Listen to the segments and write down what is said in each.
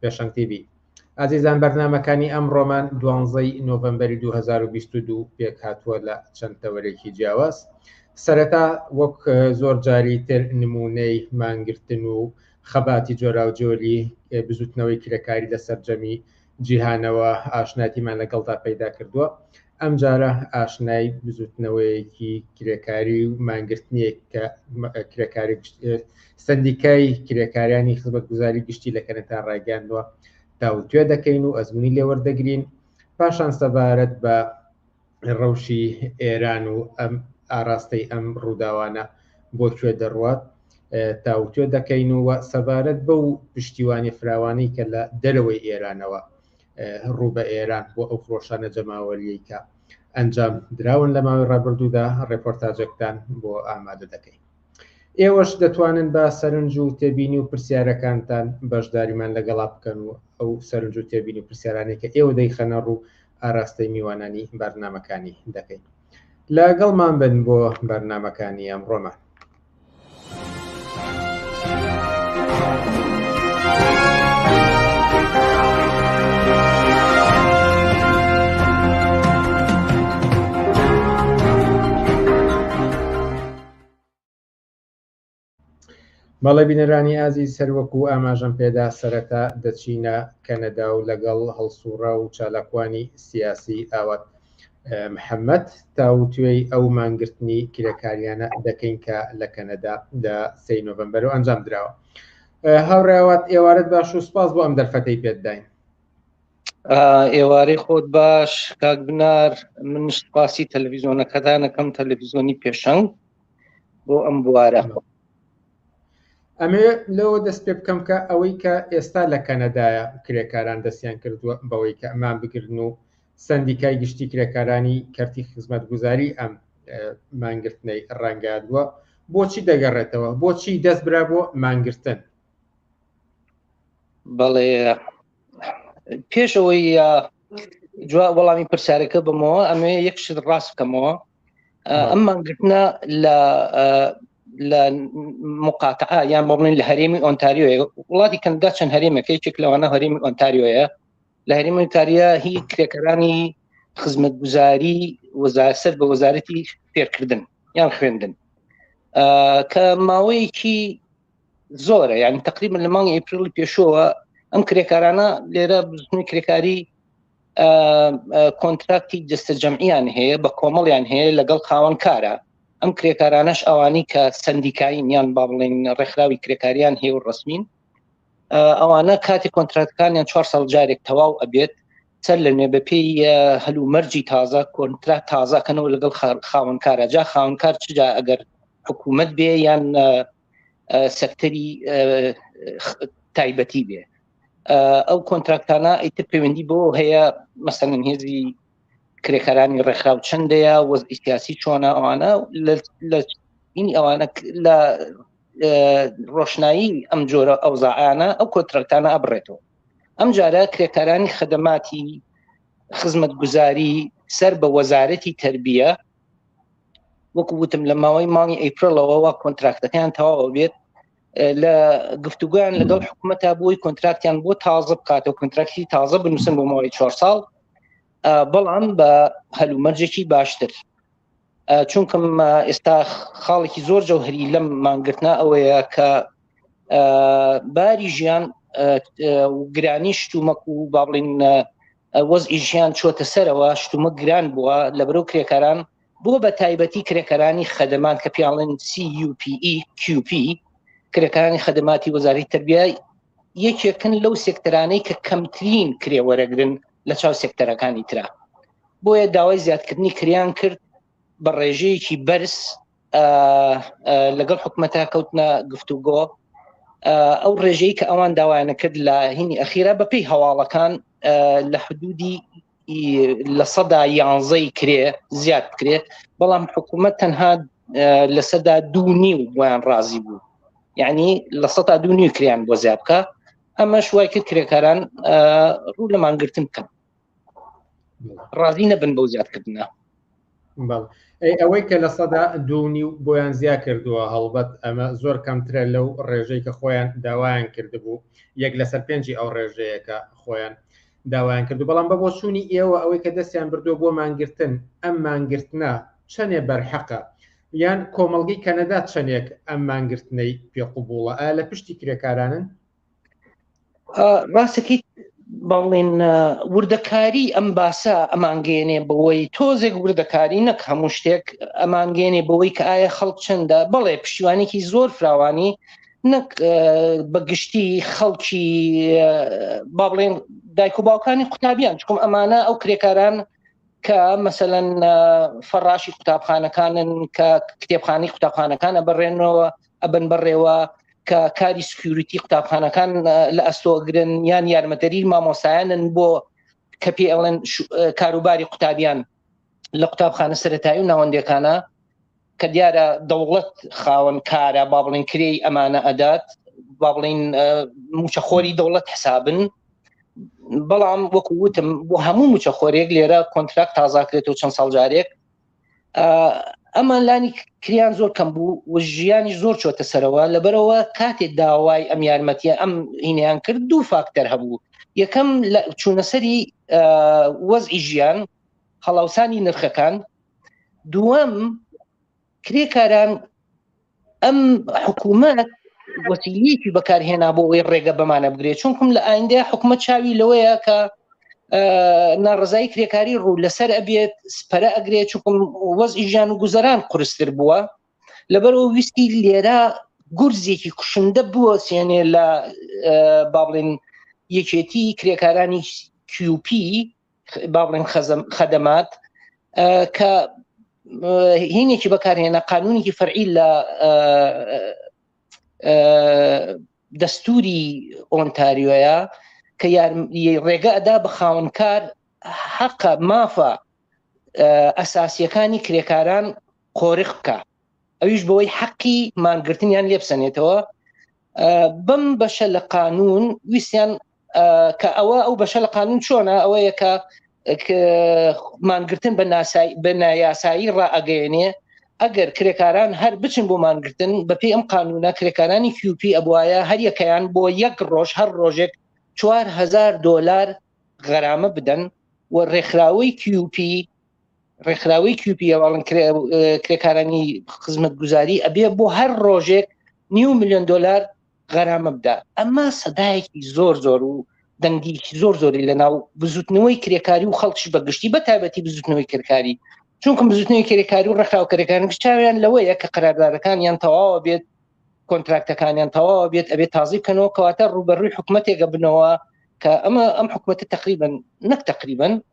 پێشەنگ تی بی. ئازیزان بەرنامەکانی ئەم ڕۆمان دوانزەی نۆڤمبەری 2022 پێک هاتووە لە چەند تەوەرێکی جیاواز سەرەتا وەک زۆر جاری تر نمونەی مانگرتن و خەباتی جۆراوجۆری بزوتنەوەی کرێکاری لە سەرجەمی جیهانەوە ئاشناتیمان لەگەڵدا پەیدا کردووە ئەم جارە ئاشنای بزوتنەوەیەکی کرێکاری و مانگرتنیەک کە کرێکاری سەندیکای کرێکاریانی خزمەتگوزاری گشتی لە کەنەتا ڕایگەیاندووە تاوتوێ دەکەین و ئەزمونی لێوەردەگرین پاشان سەبارەت بە ڕەوشی ئێران و ئەم ئاراستەی ئەم ڕووداوانە بۆ کوێ دەڕوات تاوتوێ دەکەین و سەبارەت بە و پشتیوانی فراوانی کە لە دەرەوەی ئێرانەوە ڕوو بە ئێران بۆ ئەو خۆشانە جەماوەریەکە ئەنجام دراون لە ماوەی ڕابردوودا ڕێپۆرتاجەکتان بۆ ئامادە دەکەین ئێوەش دەتوانن بە سەرنج و تێبینی و پرسیارەکانتان بەشداریمان لەگەڵا بکەن و ئەو سەرنج و تێبینی و پرسیارانەی کە ئێوە دەیخەنە ڕوو ئاراستەی میوانانی بەرنامەکانی دەکەین لەگەڵمان بن بۆ بەرنامەکانی ئەمڕۆمان بەڵێ بینەرانی ئازیز سەروەک و ئاماژەم پێدا سەرەتا دەچینە کەنەدا و لەگەڵ هەڵسوڕا و چالاکوانی سیاسی ئاوات محەممەد تاوتێی ئەو مانگرتنی کرێکاریانە دەکەین کە لە کەنەدا لە سێ نۆڤمبەر و ئەنجام دراوە هاوڕێوات ئێوارەت باش و سپاس بۆ ئەم دەرفەتەی پێتداین ئێوارەی خۆت باش کاک بنار من سپاسی تەلەڤیزۆنەکەدانەکەم تەلەڤیزۆنی پێشەنگ بۆ ئەم بوارە ئەمێ لەوە دەست پێ بکەم کە ئەوەی کە ئێستا لە کەنەدایە کرێکاران دەستیان کردووە بەوەی کە ئەمان بگرن و سندیکای گشتی کرێکارانی کەرتی خزمەت گوزاری ئەم مانگرتنەی ڕەنگادووە بۆچی دەگەڕێتەوە بۆچی دەست برا بۆ مانگرتن بەڵێ پێشەوەی جوا وەڵامی پرسیارەکە بمەوە ئەمێ یەک شت ڕاست بکەمەوە ئەم مانگرتنە لە لە مقاتعا یان بڵێن لە هەرێمی ئۆنتاریۆ وڵاتی کەندا چەند هەرێمەکە یەکێک لەوانە هەرێمی ئۆنتاریۆیە لە هەرێمی ئۆنتاریا هی کرێکەرانی خزمەت گوزاری وەزارسەر بە وەزارەتی فێرکردن یان خوێندن کە ماوەیەکی زۆرە یعنی تقریبا لە مانگی ئەپریلی پێشەوە ئەم کرێکارانە لێرە بزنی کرێکاری کۆنتراکتی دەستە جەمعیان هەیە بە کۆمەڵیان هەیە لەگەڵ خاوەن کارە ئەم کرێکارانەش ئەوانی کە سندیکایین یان با بڵێن ڕێکخراوی کرێکاریان هەیە و ڕسمین ئەوانە کاتی کۆنتراتکانیان چوار ساڵ جارێک تەواو ئەبێت سەر لە نوێ بەپی هەلو مەرجی تازە کۆنترا تازەکەنەوە لەگەڵ خاونکارە جا خاونکار چجا ئەگەر حکوومەت بێ یان سەکتەری تایبەتی بێ ئەو کۆنتراکتانە ئیتر پەیوەندی بۆ هەیە مەسەن هێزی کرێکارانی ڕێکخراو چندەیە وەزی سیاسی چۆنە ئەوانە لە ئینی ئەوانە لە ڕۆشنایی ئەم جۆرە ئەوزاعانە ئەو کۆترەکتانە ئەبڕێتەوە ئەم جارە کرێکارانی خدەماتی خزمەت گوزاری سەر بە وەزارەتی تربیە وەکو وتم لە ماوەی مانگی ئەیپرلەوەوە کۆنتراکتەکەیان تەواوە بێت لە گفتوگویان لەگەڵ حکوومەتە بۆی کۆنتراکتیان بۆ تازە بکاتەوە کۆنتراکتی تازە بنووسن بۆ ماوەی چوار ساڵ بەڵام بە هەلومەرجێکی باشتر چونکەم ئێستا خاڵێکی زۆر جەوهری لەم مانگرتنا ئەوەیە کە باری ژیان گرانی شتومەک و با بڵین وەز ئیژیان چۆتە سەرەوە شتومە گران بووە لە برو کرێکاران بۆ بە تایبەتی کرێکەرانی خەدەمان کە پیاڵن CUPEQP e، کرێکانی خەدەماتی وەزاری تربیە یەکێکن لەو سێکتەرانەی کە کەمترین کرێ وەرەگرن لە چاو سێکتەرەکانی تررا بۆیە داوای زیادکردنی کریان کرد بە ڕێژەیەکی بەرز لەگەڵ حکومەتە کەوتنە گفتوگۆ ئەو ڕێژەی کە ئەوان داوایانە کرد لە هینی ئەخیرا بەپی هەواڵەکان لە حدودی لە سەدا یانزەی کرێ زیاد بکرێت بەڵام حکوومەت تەنها لە سەدا دوو نیو بۆیان ڕازی بوو یعنی لە سەدا دوو نیو کریان بۆ زیاد بکە ئەمە شوای کرد کرێکاران ڕوو لەمانگرتن بکەن ڕازی نەبن بەو زیادکردە ئەوەی کە لە سەدا دوونی و بۆیان زیا کردووە هەڵبەت ئەمە زۆر کەمترە لەو ڕێژەی کە خۆیان داوایان کردبوو یەک لەسەر پێنجی ئەو ڕێژەیەەکە خۆیان داوایان کردو بەڵام بە بۆ چوونی ئێوە ئەوەی کە دەستیان بردو بۆ مانگرتن ئەم مانگرتنە چەندێ بەرحەقە یان کۆمەلگەی کەنەدا چەندێک ئەم مانگرتنەی پێ قوبووڵە لە پشتی کرێکارانن ڕاستەکەیت بەڵێن وردەکاری ئەم باسە ئەمانگەێنێ بەوەی تۆزێک وردەکاری نەک هەموو شتێک ئەمانگەێنێ بەوەی کە ئایا خەڵک چەندە بەڵێ پشتیوانێکی زۆر فراوانی نەک بە گشتی خەڵکی با بڵێن دایک و باوکانی قوتابیان چکم ئەمانە ئەو کرێکاران کە مەسەەن فەڕاشی قوتابخانەکانن کە کتێبخانی قوتابخانەکانە بەڕێنەوە ئەبن بەڕێوە کە کاری سکیوریتی قوتابخانەکان لە ئەستۆگرن یان یارمەدەری مامۆسایانن بۆ کە پێ ئەڵێن کاروباری قوتابیان لە قوتابخانە سەتایی و ناوەندەکانە کە دیارە دەوڵەت خاوەن کارە با بڵین کرێی ئەمانە ئەدات با بڵین موچەخۆری دەوڵەت حسابن بەڵام وەکو وتم بۆ هەموو موچەخۆرێک لێرە کۆنتراکت تازاکرێت و چەند ساڵجارێک ئەمان لانی کریان زۆر کەم بوو و ژیانی زۆر چۆتە سەرەوە لەبەرەوە کاتێک داوای ئەم یارمەتیە ئەم هینیان کرد دوو فاکتەر هەبوو یەکەم لە چوونەسەری وەزئی ژیان هەڵاوسانی نرخەکان دووەم کرێکاران ئەم حکوومەت وەسیلەیەکی بەکارهێنا بۆ ئەوەی ڕێگە بەمانە بگرێت چونکم لە ئایندەیە حکومە چاوی لەوەیە کە ناڕزایی کرێکاری ڕوو لەسەر ئەبێت پەرە ئەگرێت چکم وەزی ژیان و گوزەران قرستر بووە لەبەرەوە ویستی لێرە گورزێکی کوشندە بووە سێنێ لە بابلین یەکێتی کرێکارانی کیوپی باڵێن خەزم خەدەمات کە هینێکی بەکارهێنە قانونێکی فەرعی لە دەستوری ئۆنتاریۆیە کە ڕێگە ئەدا بە خاونکار حەقە مافە ئەساسیەکانی کرێکاران قۆرخ بکە ئەویش بەوەی حەقی مانگرتنیان لێبسەنێتەوە بەم بەشە لە قانون ویسیان کە ئەوە ئەو بەشە لە قانون چۆنە ئەوەیە کە مانگرتن بە ناسایی بە نایاسایی ڕائگەێنێ ئەگەر کرێکاران هەر بچن بۆ مانگرتن بەپی ئەم قانونە کرێکارانی کیوپی ئەبواە هەر یەکەیان بۆ یەک ڕۆژ هەر ڕۆژێک 4هزار دلار غەرامە بدەن و ڕێکخراوەی کیوپی ڕێکخراوی کیوپی ئەوڵن کرێکارانی خزمەت گوزاری ئەبێ بۆ هەر ڕۆژێک نیو میلیۆن دلار غەرامە بدا ئەمە سەدایەکی زۆر زۆر و دەنگی زۆر زۆری لە ناو بزوتنەوەی کرێکاری و خەڵکیش بەگشتی بە تایبەتی بزوتنەوەی کرێکاری چونکم بزوتنەوەی کرێکاری و ڕخراو کرێکارن چاویان لەوەیە کە قراردادەکان یان تەواوە بێت کۆنتراکتەکانیان تەواوە بێت ئەبێت تازی بکەنەوە کەواتە ڕوبەروی حکوومەتێکە بنەوە کە ئەمە ئەم حکوومەتە تقریبن نەک تقریبن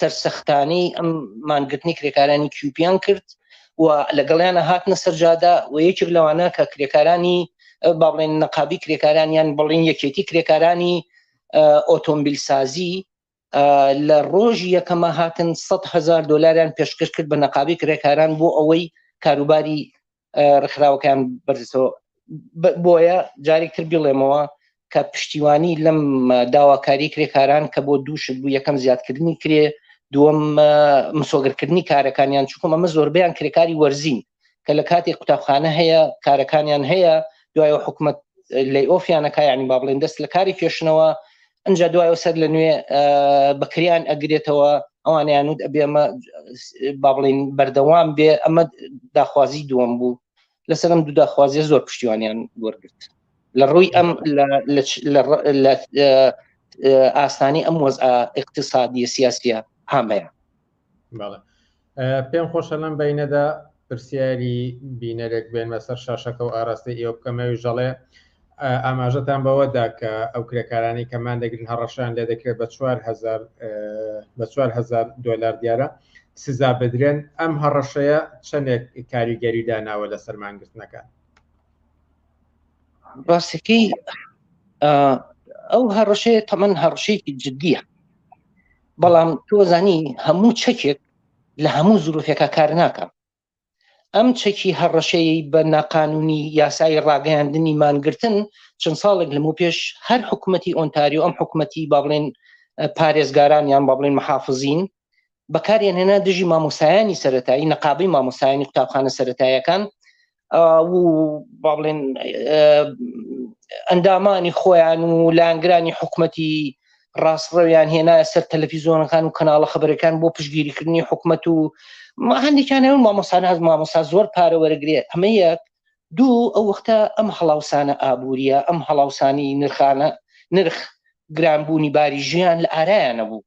سەرسەختانەی ئەم مانگرتنی کرێکارانی کیوپیان کرد و لەگەڵیانە هاتنە سەرجادا و یەکێک لەوانە کە کرێکارانی باڵێن نەقابی کرێکارانیان بڵین یەکێتی کرێکارانی ئۆتۆمبیل سازی لە ڕۆژی یەکەمە هاتن 100 هزار دلاریان پێشکەش کرد بە نەقابی کرێکاران بۆ ئەوەی کاروباری ڕخراوەکان بەرزەوە بۆیە جارێکتر بڵێمەوە کە پشتیوانی لەم داواکاری کرێکاران کە بۆ دووشت بوو یەکەم زیادکردنی کرێ دووەم مسۆگرکردنی کارەکانیان چکم ئەمە زۆربیان کرێکاری وەرزین کە لە کاتی قوتابخانە هەیە کارەکانیان هەیە دوای حکومت لەی ئۆفیانەکە ینی با بڵێن دەست لە کاری کێشنەوە ئەجا دوایەوە سەر لە نوێ بەکریان ئەگرێتەوە ئەوانیان وت ئەبێ ئەمە با بڵین بەردەوام بێ ئەمە داخوازی دووەم بوو لەسەرم دوو داخوازیە زۆر پشتیوانیان وەرگرت لە ڕووی ئەم لە ئاستانی ئەم وەز اقتصادیە سیاسیە هامەیە پێم خۆشە لەم بینەدا پرسیاری بینەرێک بێنمە سەر شاشەکە و ئاراستە ئێوە بکەمەوی ژەڵێ ئاماژەتان بەوەدا کە ئەو کرێکارانی کەمان دەگرن هەڕەشان لێ دەکرێت بە 4هزار بە 4هزار دلار دیارە سزا بدرێن ئەم هەڕەشەیە چەندێک کاریگەری داناوە لە سەرمانگرتنەکان ڕاستەکەی ئەو هەڕەشەیە تەمەەن هەڕشەیەکی جددیە بەڵام تۆزانی هەموو چەکێک لە هەموو زروفێکە کار ناکە ئەم چەکی هەڕەشەیە بە ناقانونی یاسایی ڕاگەیاندنی مانگرتن چەند ساڵێک لەمە پێش هەر حکوومەتتی ئۆنتاریو ئەم حکوومەتتی با بڵێن پارێزگاران یان با بڵێن محافزین بەکاریان هێنا دژی مامۆسایانی سەتایی نەقابی مامۆسایانی قوتابخانە سەتاییەکان باڵێن ئەندامانی خۆیان و لانگرانی حکوومەتی ڕاستڕەویان هێنایە سەر تەلەفیزۆنەکان و کەناڵە خبرەکان بۆ پشگیریکردنی حکوومەت و هەندێکیان ئەو مامۆسان هەز مامۆسا زۆر پارە وەرەگرێ ئەمە یەک دوو ئەو وەختە ئەم هەڵاوسانە ئابوووریە ئەم هەڵاوسانی نرخانە نرخ گرانبوونی باری ژیان لە ئارایانە بوو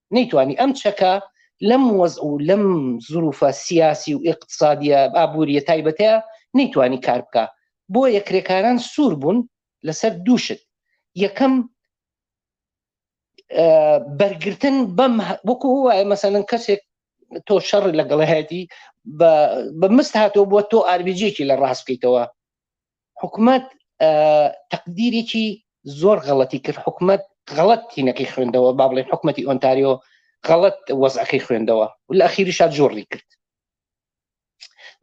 نەیتوانی ئەم چەکە لەم وەز و لەم زروفە سیاسی و ئقتصادیە ئابووریە تایبەتەیە نەیتوانی کار بکە بۆ یەکرێکاران سوور بوون لەسەر دووشت یەکەم بەرگتن بەم وەکو وایە مەسەن کەسێک تۆ شەڕ لەگەڵهایەتی بە مست هاتەوە بووە تۆ ئاربیجێکی لە ڕاست بکەیتەوە حکومەت تەقدیرێکی زۆر غەڵەتی کرد حکومت غەڵەت تینەکەی خوێندەوە با بڵێن حکوومەتتی ئۆنتاریۆ غەڵەت وەزعەکەی خوێندەوە و لە ئەخیری شاد جۆڕی کرد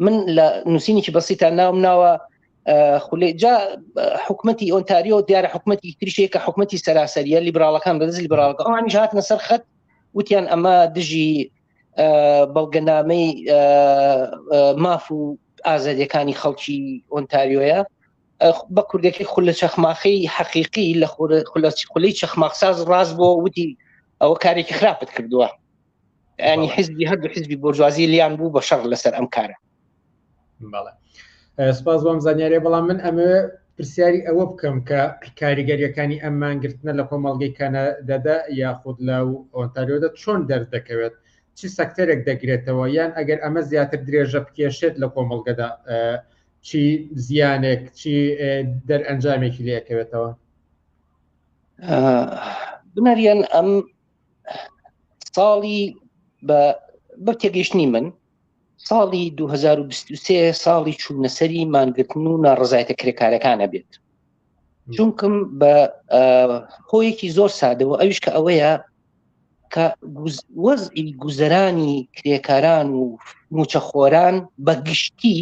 من لە نووسینێکی بەسیتا ناوم ناوە خولێ جا حکوومەتتی ئۆنتاریۆ دیارە حکوومەتتی تریشەیە کە حکوومەتتی سەراسەریە لیبراڵەکان بەدەست لیبراڵەکە ئەوانیش هاتنە سەر خەت وتیان ئەمە دژی بەڵگەنامەی ماف و ئازادیەکانی خەڵکی ئۆنتاریۆیە بە کوردەکەی خول لە چەخماخی حەقیقی لە خولی چەخماقساز ڕاست بۆ وتی ئەوە کارێکی خراپت کردووە ینی حزبی هەردوو حزبی بۆرجوازی لیان بوو بە شەڕ لەسەر ئەم کارە بەڵێ سپاس بۆم زانیارێ بەڵام من ئەمە پرسیاری ئەوە بکەم کە کاریگەریەکانی ئەم مانگرتنە لە کۆمەڵگەی کەنەدەدا یاخود لە ئۆنتاریۆدا چۆن دەردەکەوێت چ سەکتەرێک دەگرێتەوە یان ئەگەر ئەمە زیاتر درێژە بکێشێت لە کۆمەڵگەدا چی زیانێک چی دەرئەنجامێکی لەکەوێتەوە بنەریان ئەم ساڵی بە بە تێگەشتنی من ساڵی 2023 ساڵی چوونەسەری مانگرتن و ناڕزایەتە کرێکارەکانە بێت چونکم بە هۆیەکی زۆر سادەوە ئەویش کە ئەوەیە کە وەزئی گوزەرانی کرێکاران و موچەخۆران بە گشتی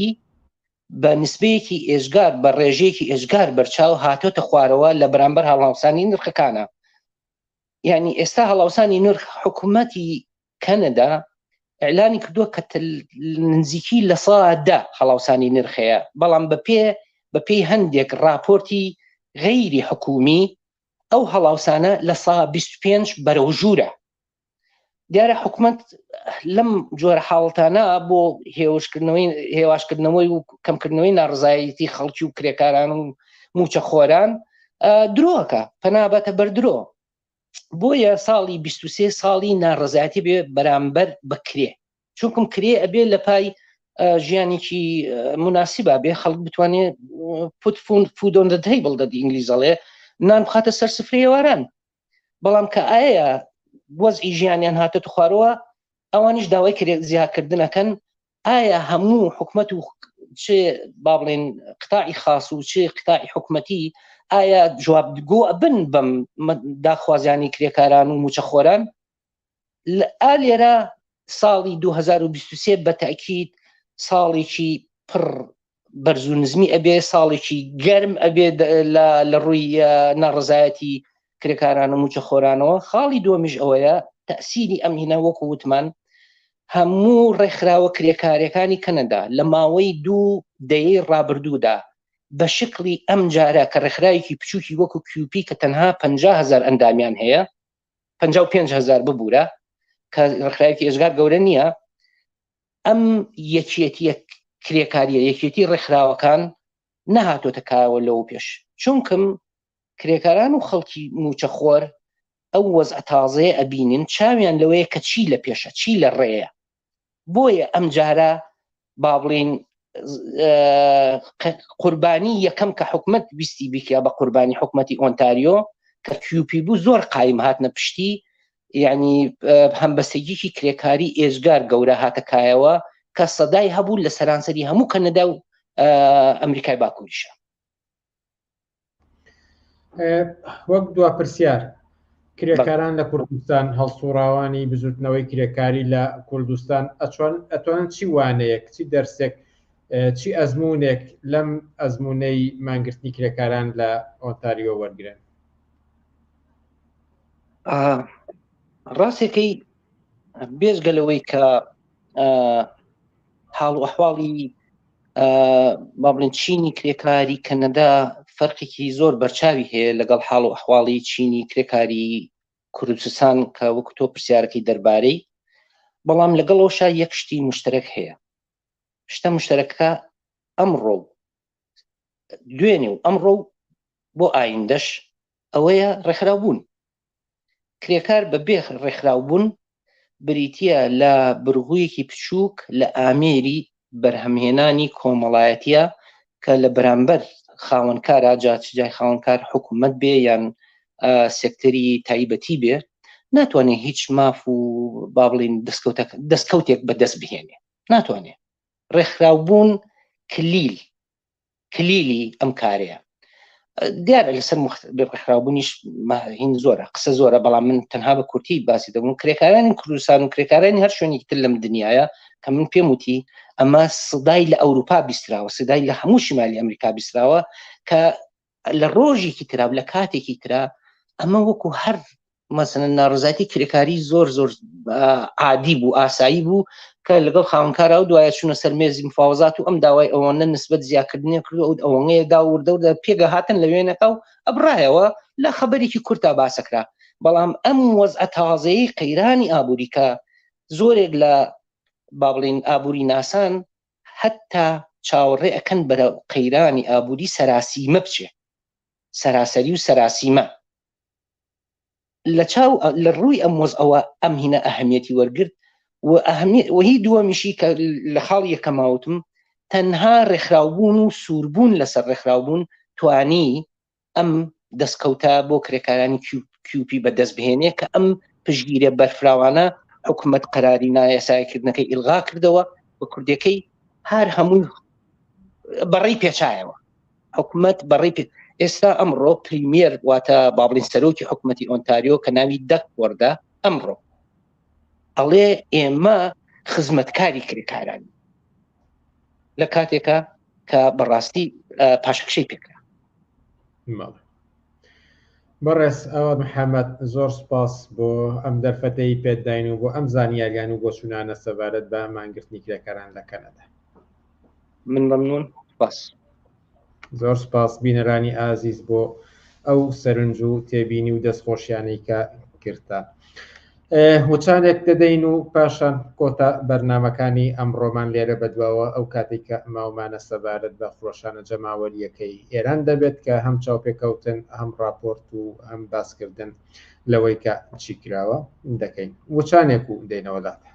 بە نسبەیەکی ئێزگار بە ڕێژەیەکی ئێزگار بەرچاو هاتۆتە خوارەوە لە بەرامبەر هەڵاوسانی نرخەکانە یعنی ئێستا هەڵاوسانی نرخ حکوومەتی کەنەدا ئەلانی کردووە کە نزیکی لە سادە هەڵاوسانی نرخەیە بەڵام بە پێ بە پێی هەندێک راپۆرتی غەیری حکومی ئەو هەڵاوسانە لە سا 25 بەرەو ژوورە دیارە حکومت لەم جۆرە حاڵتانە بۆ هێوشکردنەوەی هێواشکردنەوەی و کەمکردنەوەی ناڕزایەتی خەڵکی و کرێکاران و موچە خۆران درۆکە پەنابەتە بەردرۆ بۆیە ساڵی 23 ساڵی ناڕزایەتی بێ بەرامبەر بکرێ چونکم کرێ ئەبێ لە پای ژیانێکی مناسیبا بێ خەڵک بتوانێ پوتفون فودۆن دەدەی بڵ دەدی ئینگلیزەڵێ نان بخاتە سەر سفرێواران بەڵام کە ئایا وەزئی ژیانیان هاتە تو خوارەوە ئەوانیش داوای کرێ زیاکردنەکەن ئایا هەموو حکومت و چ با بڵێن قتاعی خاص و چ قتاعی حکومەتی ئایا جواب گۆ بن بەم داخوازیانی کرێکاران و موچەخۆران ئا لێرە ساڵی 2023 بە تاکیید ساڵێکی پڕ بەرز و نزمی ئەبێ ساڵێکی گەرم ئەبێ لە ڕووی ناڕزایەتی کرێکاران و موچە خۆرانەوە خاڵی دومیش ئەوەیە تەسیری ئەم هینە وەکو وتمان هەموو ڕێکخراوە کرێکارەکانی کەنەدا لە ماوەی دوو دەیەی ڕابردوودا بە شکلی ئەم جارە کە ڕێکخراوێکی بچووکی وەکو کیوپی کە تەنها 500هزار ئەندامیان هەیە 550هزار ببوورە کە ڕێکخراوێکی ئێزگار گەورە نییە ئەم یەکێتیە کرێکاریە یەکێتی ڕێکخراوەکان نەهاتۆتە کایەوە لەوە پێش چونکم کرێکاران و خەڵکی موچەخۆر ئەو وەز ئەتازەیە ئەبینین چاویان لەوەیە کە چی لە پێشە چی لە ڕێەیە بۆیە ئەم جارە با بڵین قوربانی یەکەم کە حکومت ویستی بیکە بە قوربانی حکومەتی ئۆنتاریۆ کە کیوپی بوو زۆر قایم هاتنە پشتی یعنی هەمبەستەگیکی کرێکاری ئێزگار گەورە هاتە کایەوە کە سەدای هەبوو لە سەرانسەری هەموو کەنەدا و ئەمریکای باکووریشە وەک دوا پرسیار کرێکاران لە کوردستان هەڵسوڕاوانی بزوتنەوەی کرێکاری لە کوردستان ئەچۆن ئەتوان چی وانەیەک چی دەرسێک چی ئەزمونێک لەم ئەزمونەی مانگرتنی کرێکاران لە ئۆتاریۆ وەرگن ڕاستەکەی بێزگە لەوەی کە حاڵ و حواڵی با بڵێن چینی کرێکاری کەنەدا فەرقێکی زۆر بەرچاوی هەیە لەگەڵ حاڵ و حواڵی چینی کرێکاری کوردستان کە وەکو تۆ پرسیارەکەی دەربارەی بەڵام لەگەڵ ئەوشا یەک شتی مشتەرەک هەیە شتە مشتەرەکە ئەمڕۆ دوێنێ و ئەمڕۆ بۆ ئایندەش ئەوەیە ڕێکخراوبوون. کرێکار بە بێ ڕێکخراوبوون بریتە لە برغوویەکی بچووک لە ئامێری بەرهەمهێنانی کۆمەڵایەتە کە لە بەرامبەر خاوەنکار ئاجاچجای خاوەنکار حکوومەت بێ یان سێکتەری تایبەتی بێ ناتوانێت هیچ ماف و با بڵین دەستکەوتە دەستکەوتێک بەدەست بهێنێ ناتوانێت ڕێکخراوبوون کلیل کلیلی ئەم کارەیە دیارە لەسەر ڕێکخراوبوونیش هین زۆرە قسە زۆرە بەڵام من تەنها بە کورتی باسی دەبوون کرێکارانی کوردستان و کرێکارانی هەر شوێنی تر لەم دنیاە کە من پێم وتی ئەمە سدای لە ئەوروپا بیستراوە سدای لە هەموو شمالی ئەمریکا بیستراوە کە لە ڕۆژێکی ترا و لە کاتێکی ترا ئەمە وەکو هەر مەسەن ناڕزایتی کرێکاری زۆر زۆر عادی بوو ئاسایی بوو کە لەگەڵ خاونکارا و دوایە چونە سەر مێزی مفاوزات و ئەم داوای ئەوەنە نسبت زیاکردنی کرد ئەو ئەوەنەیە دا وردەوردە پێگە هاتن لە وێنەکە و ئەبراایەوە لە خەبەرێکی کورتا باسەکرا بەڵام ئەم وەزعە تازەیە قەیرانی ئابووریکە زۆرێک لە با بڵین ئابووری ناسان هەتا چاوەڕێ ئەکەن بەرە قەیرانی ئابووری سەراسیمە بچێ سەراسەری و سەراسیمە لە چاو لە ڕووی ئەم وەز ئەوە ئەم هینە ئەهمیەتی وەرگرت و ئەهمی وهی دووەمیشی کە لە خاڵ یەکەماوتم تەنها ڕێکخراوبوون و سووربوون لەسەر ڕێکخراوبوون توانی ئەم دەستکەوتە بۆ کرێکارانی کیوپی بەدەست بهێنێ کە ئەم پشگیرە بەرفراوانە حکوومەت قەراری نایەسایکردنەکەی ئیلغا کردەوە بە کوردەکەی هەر هەمووی بەڕی پێچایەوە حکوومەت بەڕی پێ ئێستا ئەمڕۆ پریمیر واتە بابلین سەرۆکی حکوومەتتی ئۆنتاریۆ کە ناوی دەک وەردە ئەمڕۆ ئەڵێ ئێمە خزمەتکاری کرێکارانی لە کاتێکە کە بەڕاستی پاشەکشەی پێکرا بەڕێز ئەوە محەممەد زۆر سپاس بۆ ئەم دەرفەتەی پێداین و بۆ ئەم زانیاریان و بۆ چونانە سەبارەت بە مانگرتنی کرێکاران لە کەنەدا من مەمنون باس زۆر سپاس بینەرانی ئازیز بۆ ئەو سەرنج و تێبینی و دەستخۆشیانەی کە کردتان. وچانێک دەدەین و پاشان کۆتا بەرنامەکانی ئەمڕۆمان لێرە بەدواوە ئەو کاتەی کە ماومانە سەبارەت بە خرۆشانە جەماوەرییەکەی ئێران دەبێت کە هەم چاوپێکەوتن هەم ڕاپۆرت و هەم باسکردن لەوەی کە چی کراوە دەکەین وچانێک و دێنەوە لاتان.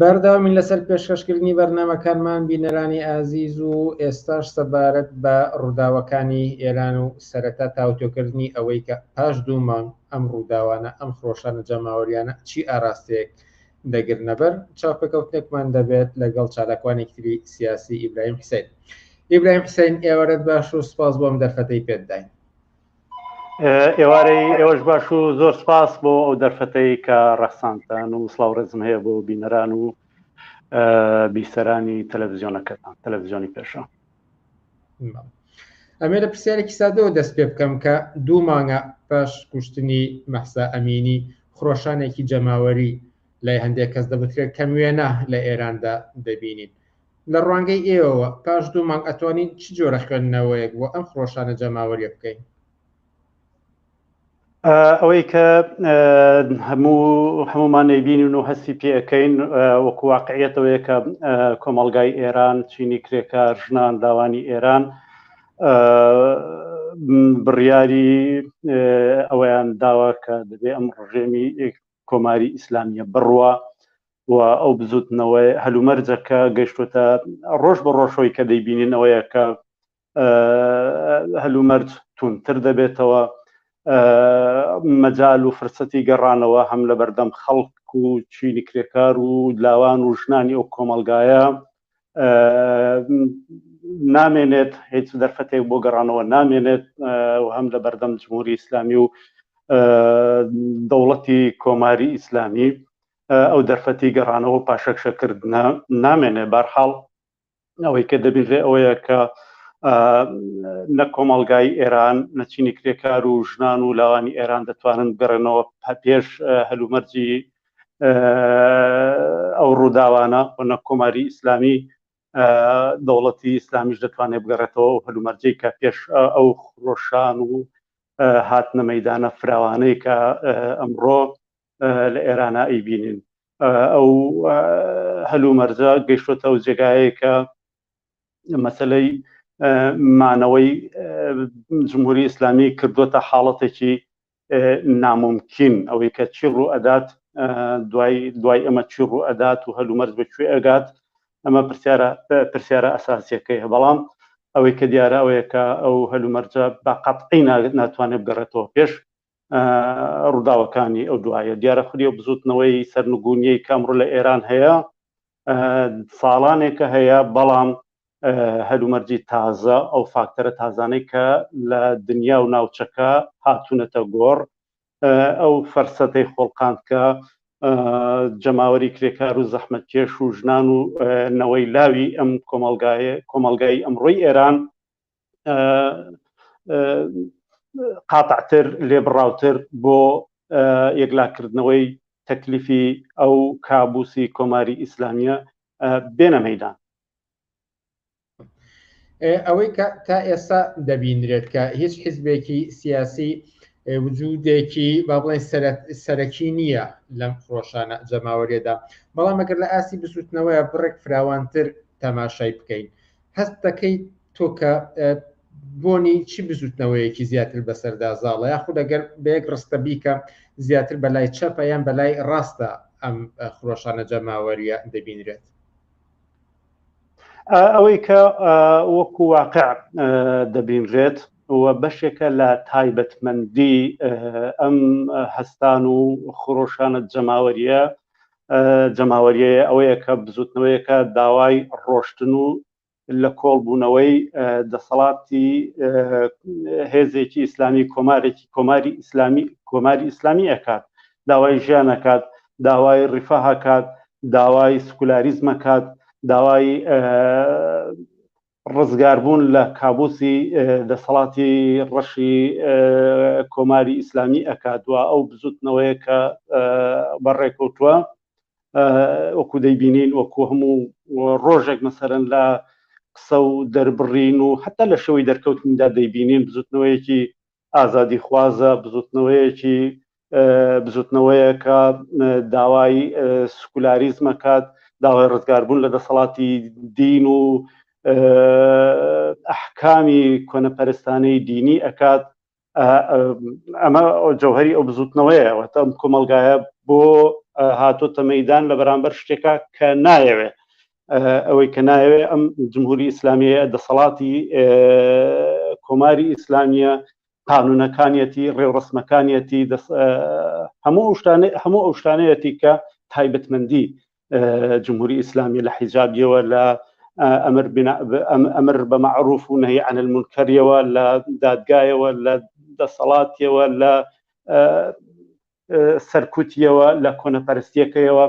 بەردەوامی لەسەر پێشکەشکردنی بەرنمەکانمان بینەرانی ئازیز و ئێستاش سەبارەت بە ڕووداوەکانی ئێران و سەرەتا تاوتۆکردنی ئەوەی کە پاش دوو مانگ ئەم ڕووداوانە، ئەم خرۆشانە جەماوەرییانە چی ئاراستەیەک دەگرنەبەر، چاوپێکەوتنێکمان دەبێت لەگەڵ چالاکوانێکی تری سیاسی، ئیبراهیم حسین. ئیبراهیم حسین، ئێوارەت باش و سپاس بۆ ئەم دەرفەتەی پێت داین. ئێوارەی ئێوەش باش و زۆر سپاس بۆ ئەو دەرفەتەی کە ڕەخساندتان و سڵاو و ڕێزم هەیە بۆ بینەران و بیسەرانی تەلەڤزیۆنەکەتان، تەلەڤزیۆنی پێشەوا. ئەمێ لە پرسیارێکی سادەوە دەست پێ بکەم کە دوو مانگە پاش کوشتنی مەحسا ئەمینی خرۆشانێکی جەماوەری لای هەندێک کەس دەبترێت کەم وێنە لە ئێراندا دەبینین لە ڕوانگەی ئێوەوە پاش دوو مانگ ئەتوانین چ جۆرە خوێندنەوەیەک بۆ ئەم خرۆشانە جەماوەریە بکەین ئەوەی کە هەموو هەمومان نەیبینین و هەستی پێەکەین وەکو واقعیەتەوەیە کە کۆمەلگای ئێران چینی کرێکار ژنان داوانی ئێران بڕیاری ئەویان داوا کە دەبێ ئەم ڕژێمی کۆماری ئیسلامیە بڕوە و ئەو بزوتنەوەی هەلومەرجەکە گەشتوتە ڕۆژ بە ڕۆژۆی کە دەیبینین ئەوەیە کە هەلومەرج توندتر دەبێتەوە مەجال و فرسەتی گەڕانەوە هەم لە بەردەم خەڵک و چینی کرێکار و لاوان و ژنانی ئەو کۆمەلگایە نامێنێت هیچ دەرفەتێک بۆ گەڕانەوە نامێنێت و هەم لە بەردەم جمهوری ئیسلامی و دەوڵەتی کۆماری ئیسلامی ئەو دەرفەتی گەڕانەوە پاشەکشەکردە نامێنێ بارحاڵ ئەوەی کە دەبینرێ ئەوەیە کە نە کۆمەڵگای ئێران نەچینی کرێکار و ژنان و لاوانی ئێران دەتوانن بگەڕێنەوە پێش هەلومەرجی ئەو ڕووداوانە و نە کۆماری ئیسلامی دەوڵەتی ئیسلامیش دەتوانێت بگەڕێتەوە و هەلومەرجەی کە پێش ئەو خرۆشان و هاتنە مەدانە فراوانەی کە ئەمڕۆ لە ئێرانە ئەیبینین ئەو هەلومەرجە گەیشتۆتە و جێگایە کە مەسلەی مانەوەی جمهوری ئیسلامی کردوتە حاڵەتێکی ناممکن ئەوەی کە چی ڕوو ئەدات دوای دوای ئەمە چی ڕوو ئەدات و هەلومەرج بە کوێ ئەگات ئەمە پرسیارە پرسیارە ئەساسیەکەی بەڵام ئەوەی کە دیارە ئەوەیە کە ئەو هەلومەرجە بە قەتعی ناتوانێت بگەڕێتەوە پێش ڕووداوەکانی ئەو دوایە دیارە خوری و بزوتنەوەی سەرنگونیەی کامڕ لە ئێران هەیە ساڵانێکە هەیە بەڵام هەلومەرجی تازە ئەو فاکتەرە تازانەی کە لە دنیا و ناوچەکە هاتوونەتە گۆڕ ئەو فەرسەتەی خۆڵقاند کە جەماوەری کرێکار و زەحمەت کێش و ژنان و نەوەی لاوی ئەم کۆمەلگایە کۆمەلگای ئەمڕۆی ئێران قاتعتر لێبڕاوتر بۆ یەکلاکردنەوەی تەکلیفی ئەو کابوسی کۆماری ئیسلامیە بێنە مەدان ئەوەی کە تا ئێستا دەبینرێت کە هیچ حیزبێکی سیاسی وجودێکی با بڵێن سەرەکی نییە لەم خۆشانە جەماوەرێدا بەڵام ئەگەر لە ئاسی بزوتنەوەیە بڕێک فراوانتر تەماشای بکەین هەست دەکەیت تۆ کە بۆنی چی بزوتنەوەیەکی زیاتر بەسەردا زاڵە یا خود ئەگەر بەیەک ڕستە بیکە زیاتر بەلای چەپە یان بەلای ڕاستە ئەم خرۆشانە جەماوەریە دەبینرێت ئەوەی کە وەکو واقع دەبینرێت و بەشێکە لە تایبەتمەندی ئەم هەستان و خرۆشانە جەماوەریە جەماوەریەیە ئەوەیە کە بزوتنەوەیەکە داوای ڕۆشتن و لە کۆڵبوونەوەی دەسەڵاتی هێزێکی ئیسلامی کۆمارێکی کۆماری ئیسلامی کۆماری ئیسلامی ئەکات داوای ژیانەکات داوای ڕیفاهکات داوای سکولاریزمەکات داوای ڕزگاربوون لە کابوسی دەسەڵاتی ڕەشی کۆماری ئیسلامی ئەکات و ئەو بزوتنەوەیە کە بەڕێکەوتووە وەکو دەیبینین وەکو هەموو ڕۆژێک مەسەرەن لە قسە و دەربڕین و حتا لە شێوەی دەرکەوتندا دەیبینین بزوتنەوەیەکی ئازادیخوازە بزوتنەوەیەکی بزوتنەوەیەکە داوای سکولاریزم ئەکات، داوای ڕزگاربوون لە دەسەڵاتی دین و ئەحکامی کۆنەپەرستانەی دینی ئەکات، ئەمە جەوهەری ئەو بزوتنەوەیە، واتە ئەم کۆمەڵگایە بۆ هاتۆتە مەیدان لە بەرامبەر شتێکا کە نایەوێ ئەوەی کە نایەوێ ئەم جمهوری ئیسلامیە دەسەڵاتی کۆماری ئیسلامیە قانونەکانیەتی ڕێوڕسمەکانیەتی هەموو شتانێ هەموو ئەو شتانەتی کە تایبەتمەندی جمهوری ئیسلامی لە حیجابیەوە لە ئەمر ئەمر بە معروف و نەهی عن المنکەریەوە لە دادگایەوە لە دەسەڵاتیەوە لە سەرکوتیەوە لە کۆنەپەرستیەکەیەوە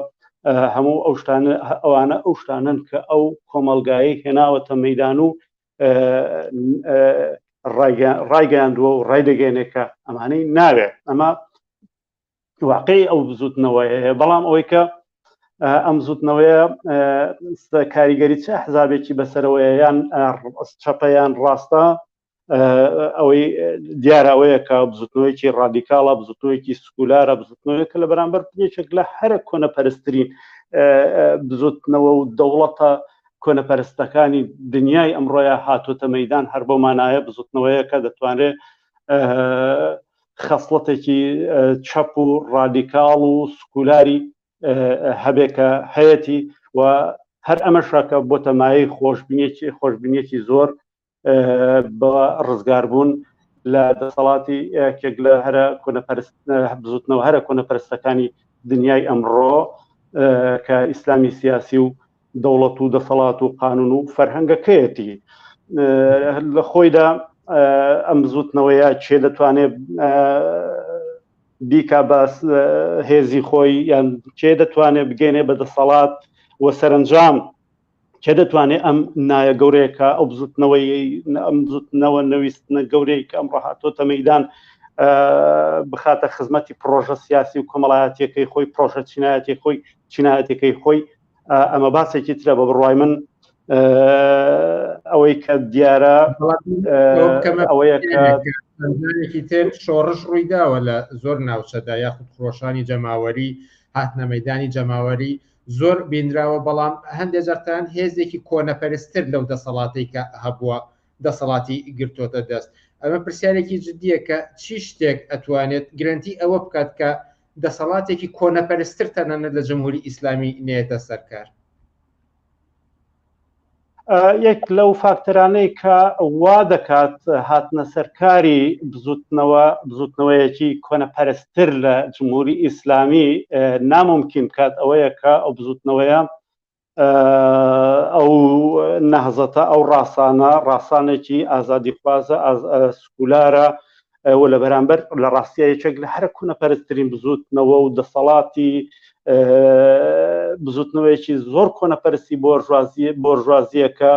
هەموو ئەو شتانە ئەوانە ئەو شتانن کە ئەو کۆمەلگایی هێناوەتە مەدان و ڕایگەیاندووە و ڕایدەگەێنێکە ئەمانەی ناوێت ئەمە واقعی ئەو بزوتنەوەی هەیە بەڵام ئەوەی کە ئەم زوتنەوەیە کاریگەری چه حزابێکی بەسەرەوەیان چەپەیان ڕاستە ئەوەی دیارە ئەوەیە کە بزوتنەوەیەکی ڕادیکاڵە بزوتنەوەیەکی سکولارە بزوتنەوەیە کە لە بەرامبەر پێچێک لە هەرە کۆنە پەرسترین بزوتنەوە و دەوڵەتە کۆنەپەرستەکانی دنیای ئەمڕۆیە هاتۆتە مەدان هەر بۆ مانایە بزوتنەوەیە کە دەتوانرێت خەسڵەتێکی چەپ و ڕادیکاڵ و سکولاری هەبێکە هەیەی و هەر ئەمەشەکە بۆ تەمایی خۆشببینێکی خۆشببینێکی زۆر بە ڕزگاربوون لە دەسەڵاتی یەکێک لە هەرە بزوتنەوە هەرە کۆنەپەرستەکانی دنیای ئەمڕۆ کە ئیسلامی سیاسی و دەوڵەت و دەسەڵات و قانون و فەرهەنگەکەیەتی لە خۆیدا ئەم بزوتنەوەیە چێ دەتوانێت بیکا باس هێزی خۆی یان چێ دەتوانێت بگەێنێ بە دەسەڵات و سەرنجام کێ دەتوانێت ئەم نایە گەورەیەکە ئەو بزوتنەوەی ئەم بزوتنەوە نەویستنە گەورەی کە ئەم ڕاهاتۆتە مەدان بخاتە خزمەتی پرۆژە سیاسی و کۆمەڵایەتەکەی خۆی پرۆژە چینایەتی خۆی چینایەتەکەی خۆی ئەمە باسێکی ترە بە بڕای من ئەوەی کە دیارە ئەوەیە کەێکی تر شۆڕش ڕووی داوە لە زۆر ناوچەدا یاخود خۆشانی جەماوەری هاتنە مەدانی جەماوەری زۆر بینراوە بەڵام هەندێک جارتان هێزێکی کۆنەپەرستر لەو دەسەڵاتەی کە هەبووە دەسەڵاتی گرتۆتە دەست ئەمە پرسیارێکی جددیە کە چی شتێک ئەتوانێت گرنتی ئەوە بکات کە دەسەڵاتێکی کۆنەپەرستر تەنانەت لە جمهوری ئیسلامی نێتە سەرکار یەک لەو فاکتەرانەی کە وا دەکات هاتنە سەرکاری بزوتنەوە بزوتنەوەیەکی کۆنەپەرستر لە جمهوری ئیسلامی ناممکن بکات ئەوەیە کە ئەو بزوتنەوەیە ئەو نەهزەتە ئەو ڕاستانە ڕاستانێکی ئازادی خوازە سکولارە و لە بەرامبەر لە ڕاستیە یەکێک لە هەرە کوونە پەرستترین بزوتنەوە و دەسەڵاتی بزوتنەوەیەکی زۆر کۆنە پەرستی بۆرژوازی بۆرژوازیەکە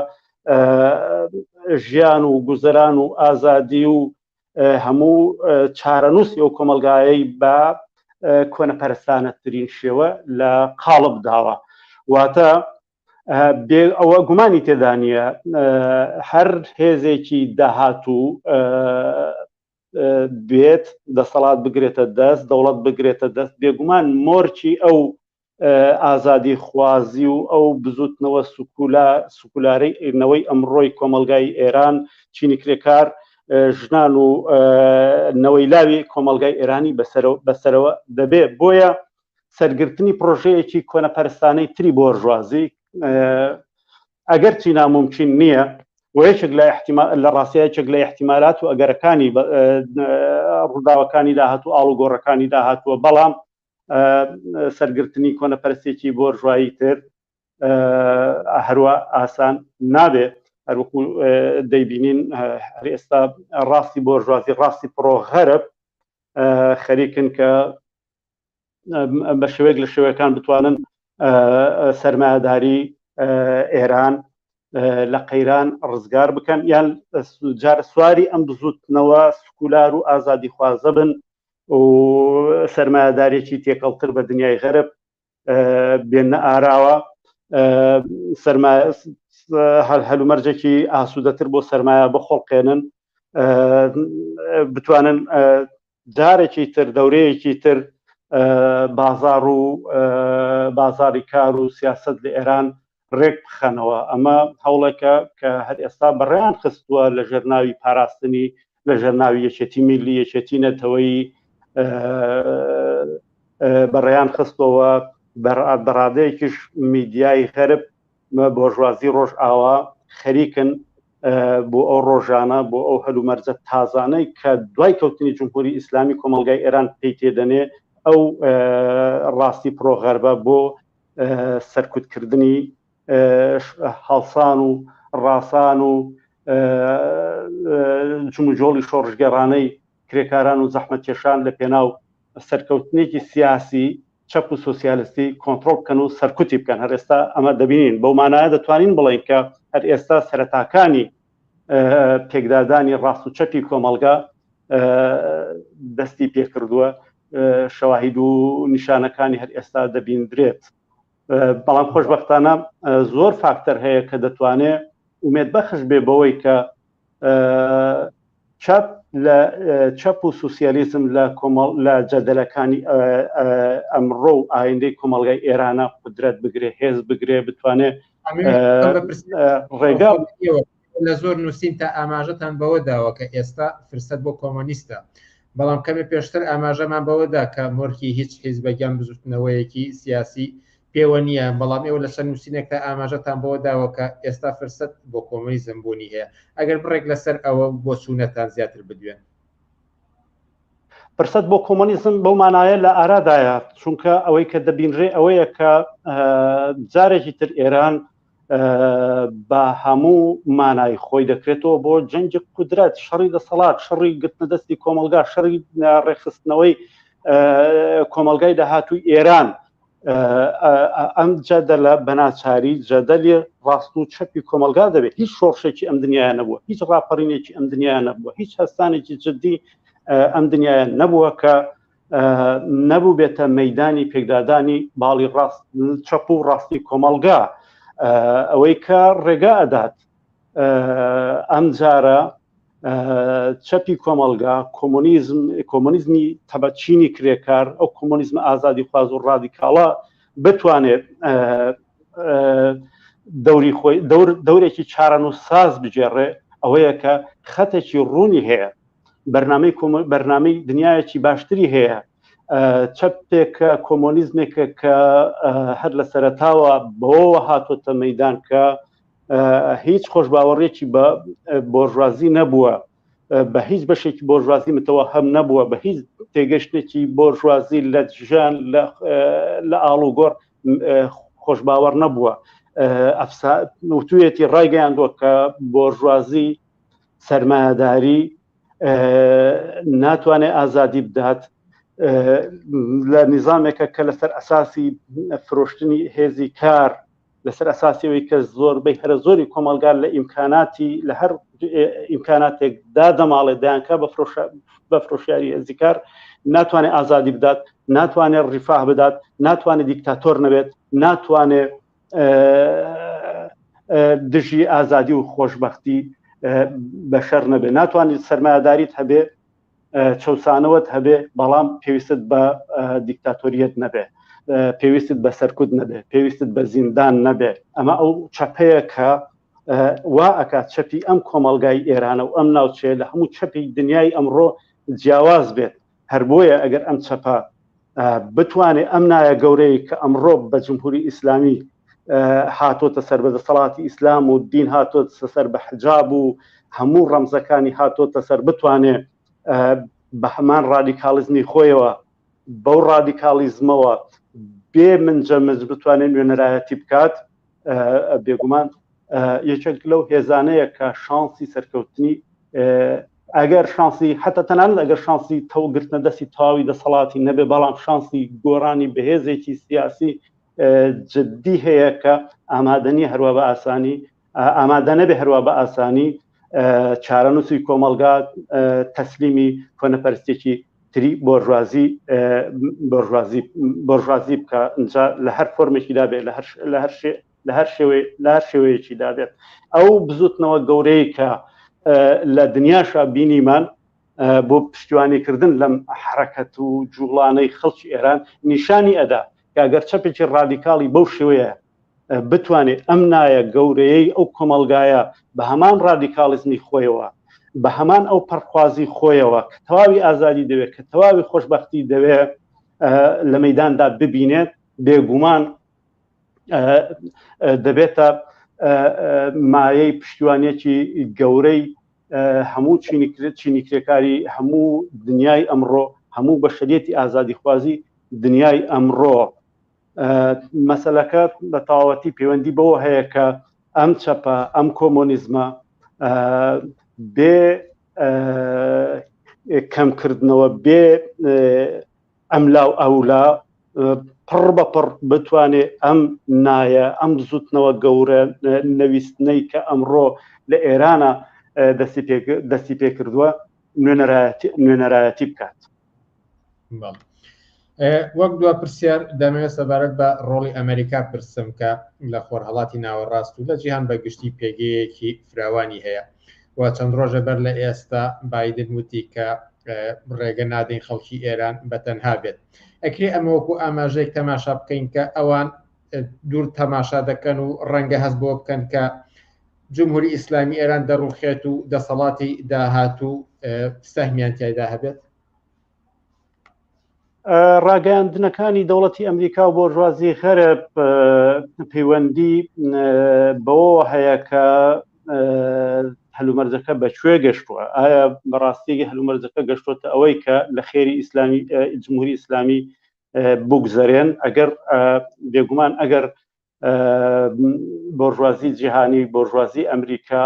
ژیان و گوزەران و ئازادی و هەموو چارەنووسی ئەو کۆمەلگایەی بە کۆنە پەرستانەترین شێوە لە قاڵب داوە واتە بێ ئەوە گومانی تێدانە هەر هێزێکی داهاتوو بێت دەسەڵات بگرێتە دەست دەوڵەت بگرێتە دەست بێگومان مۆرکی ئەو ئازادی خوازی و ئەو بزوتنەوە سکولا سکولارەی ئێرنەوەی ئەمڕۆی کۆمەلگای ئێران چینی کرێکار ژنان و نەوەی لاوی کۆمەلگای ئێرانی بەسەرەوە دەبێ بۆیە سەرگرتنی پرۆژەیەکی کۆنەپەرستانەی تری بۆرژوازی ئەگەر چی ناممکن نییە و یەکێک لە لە ڕاستە یەکێک لە احتیمالات و ئەگەرەکانی ڕووداوەکانی داهات و ئاڵ و گۆڕەکانی داهاتوە بەڵام سەرگرتنی کۆنەپەرستێکی بۆرژایی تر هەروە ئاسان نابێت هەروکو دەیبینین هەر ئێستا ڕاستی بۆرژوازی ڕاستی پرۆ غەرب خەریکن کە بە شێوەیەک لە شێوەکان بتوانن سەرمایهداری ئێران لە قەیران ڕزگار بکەن یان جار سواری ئەم بزوتنەوە سکولار و ئازادی خوازە بن و سەرمایهدارێکی تێکەڵتر بە دنیای غەرب بێنە ئاراوە هەل هەلومەرجێکی ئاسوودەتر بۆ سەرمایە بخۆڵقێنن بتوانن جارێکی تر دەورەیەکی تر بازار و بازاری کار و سیاست لە ئێران ڕێک بخەنەوە ئەمە هەوڵێکە کە هەر ئێستا بەڕێیان خستووە لە ژێرناوی پاراستنی لە ژێرناوی یەکێتی میلی یەکێتی نەتەوەی بەڕێیان خستەوە بەڕادەیەکیش میدیای غەرب بۆرژوازی ڕۆژئاوا خەریکن بۆ ئەو ڕۆژانە بۆ ئەو هەلومەرجە تازانەی کە دوای کەوتنی جمهوری ئیسلامی کۆمەلگای ئێران پێی تێدەنێ ئەو ڕاستی پرۆغەربە بۆ سەرکوتکردنی هەڵسان و ڕاسان و جموجۆڵی شۆڕژگەڕانەی کرێکاران و زەحمەتکێشان لە پێناو سەرکەوتنێکی سیاسی چەپ و سۆسیالستی کۆنترۆڵ بکەن و سەرکوتی بکەن هەر ئێستا ئەمە دەبینین بەو مانایە دەتوانین بڵین کە هەر ئێستا سەرەتاکانی پێکدادانی ڕاست و چەپی کۆمەڵگا دەستی پێکردووە شەواهید و نیشانەکانی هەر ئێستا دەبیندرێت بەڵام خۆشببختانە زۆر فاکتەر هەیە کە دەتوانێت ومێت بەخش بێ بەوەی کە چەپ لە چەپ و سوسیالیزم لە کۆمەڵ لە جەدەلەکانی ئەمڕۆ و ئایندەی کۆمەڵگای ئێرانە قدرەت بگرێ هێز بگرێ بتوانێت ڕێگا لە زۆر نووسین تا ئاماژەتان بەوە داوە کە ئێستا فرسەت بۆ کۆمۆنیستە بەڵام کەمێ پێشتر ئاماژەمان بەوەدا کە مۆرکی هیچ حیز بەگیان بزوتنەوەیەکی سیاسی پێوە نییە، بەڵام ئێوە لەسەر نووسینێکدا ئاماژەتان بەوە داوە کە ئێستا فرسەت بۆ کۆمۆنیزم بوونی هەیە، ئەگەر بڕێک لەسەر ئەوە و بۆچوونەتان زیاتر بدوێن. فرسەت بۆ کۆمۆنیزم بەو مانایە لە ئارادایە، چونکە ئەوەی کە دەبینرێ ئەوەیە کە جارێکی تر ئێران بە هەموو مانای خۆی دەکرێتەوە بۆ جەنگی قودرەت شەڕی دەسەڵات شەڕی گرتنە دەستی کۆمەلگا شەڕی ڕێخستنەوەی کۆمەلگای داهاتوی ئێران ئەم جادە لە بەناچاری جەدەلی ڕاست و چەپی کۆمەلگا دەبێت هیچ شۆڕشێکی ئەم دنیاە نەبووە هیچ ڕاپەڕینێکی ئەم دنیاە نەبووە هیچ هەستانێکی جددی ئەم دنیاە نەبووە کە نەبووبێتە مەدانی پێکدادانی باڵی ڕاست چەپ و ڕاستی کۆمەڵگا ئەوەی کە ڕێگا ئەدات ئەم جارە چەپی کۆمەلگا کۆمۆنیزم کۆمۆنیزمی تەبەچینی کرێکار ئەو کۆمۆنیزم ئازادی خواز و ڕادیکاڵە بتوانێت دەوری خۆی دەورێکی چارەن و ساز بگێڕێ ئەوەیە کە خەتێکی ڕوونی هەیە بەرنمەی بەرنمەی دنیایەکی باشتری هەیە چەپێکە کۆمۆنیزمێکە کە هەر لە سەرتاوە بەوەوە هاتۆتە مەدان کە هیچ خۆش باوەڕێکی بە بۆژوازی نەبووە بە هیچ بەشێکی بۆژوازی متەوە هەم نەبووە بە هیچ تێگەشتێکی بۆژوازی لە ژیان لە ئاڵوگۆڕ خۆش باوەڕ نەبووە وتوێتی ڕایگەیاندوە کە بۆژوازی سەرمایەداری ناتوانێت ئازادی بدات لە نیزانێکە کە لەسەر ئەساسی فرۆشتنی هێزی کار لەسەر ئەساسیەوەی کە زۆر بەی هەرە زۆری کۆمەلگار لە ئیمکاناتی لە هەر ئیمکاناتێک دا دەماڵێ دایانکە بە بە فرۆشیاری هێزی کار ناتوانێت ئازادی بدات ناتوانێت ڕیفاه بدات ناتوانێت دیکتاتۆر نەبێت ناتوانێت دژی ئازادی و خۆشببختی بەشەر نەبێ ناتوانیت سەرمایهداریت هەبێ چەسانەوەت هەبێ بەڵام پێویستت بە دیکتاتۆریت نەبێ پێویستت بە سەرکوت نەبێ پێویستت بە زیندان نەبێ ئەمە ئەو چەپەیە کە وا ئەکات چەپی ئەم کۆمەلگای ئێرانە و ئەم ناوچەیە لە هەموو چەپی دنیای ئەمڕۆ جیاواز بێت هەر بۆیە ئەگەر ئەم چەپە بتوانێت ئەم نایە گەورەی کە ئەمڕۆ بە جمهوری ئیسلامی هاتۆتە سەر بە دەسەڵاتی ئیسلام و دین هاتۆت سەر بە حجاب و هەموو ڕەمزەکانی هاتۆتە سەر بتوانێ بە هەمان ڕادیکاڵزمی خۆیەوە بەو ڕادیکاڵیزمەوە بێ من جەمز بتوانێت نوێنەرایەتی بکات بێگومان یەکێک لەو هێزانەیە کە شانسی سەرکەوتنی ئەگەر شانسی حتا تەنان ئەگەر شانسی تەوگرتنە دەستی تاوی دەسەڵاتی نەبێ بەڵام شانسی گۆرانی بەهێزێکی سیاسی جددی هەیە کە ئامادەنی هەروە بە ئاسانی ئامادە نەبێ هەروە بە ئاسانی چارەنووسی کۆمەڵگا تەسلیمی کۆنەپەرستێکی تری بۆرژوازی بۆرژوازی بکە ئەجا لە هەر فۆرمێکی دابێت لە هەر لە هەر لە هەر شێوێ لە هەر شێوەیەکی دابێت ئەو بزوتنەوە گەورەی کە لە دنیاشا بینیمان بۆ پشتیوانیکردن لەم حرەکەت و جوڵانەی خەڵکی ئێران نیشانی ئەدا کاگەر چەپێکی ڕادیکاڵی بەو شێوەیە بتوانێت ئەم نایە گەورەیەی ئەو کۆمەلگایە بە هەمان ڕادیکاڵزمی خۆیەوە بە هەمان ئەو پەرخوازی خۆیەوە کە تەواوی ئازادی دەوێت کە تەواوی خۆشببختی دەوێت لە مەداندا ببینێت بێگومان دەبێتە مایەی پشتیوانێکی گەورەی هەموو چینیکرێت چینیکرێکاری هەموو دنیای ئەمڕۆ هەموو بەشریەتی ئازادی خوازی دنیای ئەمڕۆ مەسەلەکە بە تەواوەتی پەیوەندی بەوە هەیە کە ئەم چەپە ئەم کۆمۆنیزمە بێ کەمکردنەوە بێ ئەملاو ئەولا پڕ بە پڕ بتوانێ ئەم نایە ئەم زوتنەوە گەورە نەویستنەی کە ئەمڕۆ لە ئێرانە دەستی پێکردووە نوێنەرایەتی بکات وەک دو پرسیار دەمەوێت سەبارەت بە ڕۆڵی ئەمریکا پرسم کە لە خۆرهڵاتی ناوەڕاست و لە جیهان بە گشتی پێگەیەکی فراوانی هەیە و چەند ڕۆژە بەر لە ئێستا بادن وتی کە ڕێگە نادەین خەڵکی ئێران بە تەنها بێت ئەکرێ ئەمەوەکو ئاماژەیەک تەماشا بکەین کە ئەوان دوور تەماشا دەکەن و ڕەنگە هەست بۆ بکەن کە جمهوری ئیسلامی ئێران دەڕوخێت و دەسەڵاتی داهاتوو سەهمیان تایدا هەبێت ڕاگەیاندنەکانی دەوڵەتی ئەمریکا و بۆرژوازی غەرب پەیوەندی بەوە هەیە کە هەلومەرجەکە بەکوێ گەشتووە ئایا بەڕاستیگە هەلومەرجەکە گەشتوتە ئەوەی کە لە خێری ئیسلامی جمهوری ئیسلامی بگوزارێن ئەگەر بێگومان ئەگەر بۆرژوازی جیهانی بۆرژوازی ئەمریکا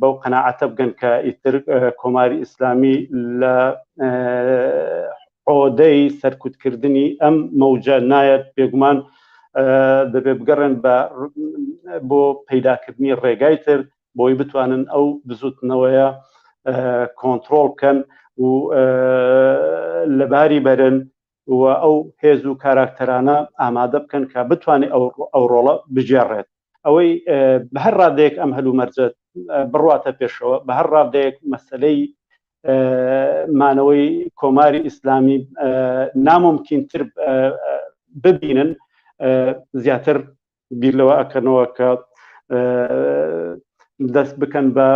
بەو قەنەعەتە بگەن کە ئیتر کۆماری ئیسلامی لە عۆدەی سەرکوتکردنی ئەم مەوجە نایەت بێگومان دەبێ بگەڕێن بە بۆ پەیداکردنی ڕێگای تر بۆی بتوانن ئەو بزوتنەوەیە کۆنتترۆل بکەن و لەباری بەرن و ئەو هێز و کاراکتەرانە ئامادە بکەن کە بتوانێت ئەو ڕۆڵە بگێڕێت. ئەوەی بە هەر ڕادەیەک ئەم هەلومەرجە بڕواتە پێشەوە بە هەر ڕادەیەک مەسلەی مانەوەی کۆماری ئیسلامی ناممکنتر ببینن زیاتر بیر لەوە ئەکەنەوە کە دەست بکەن بە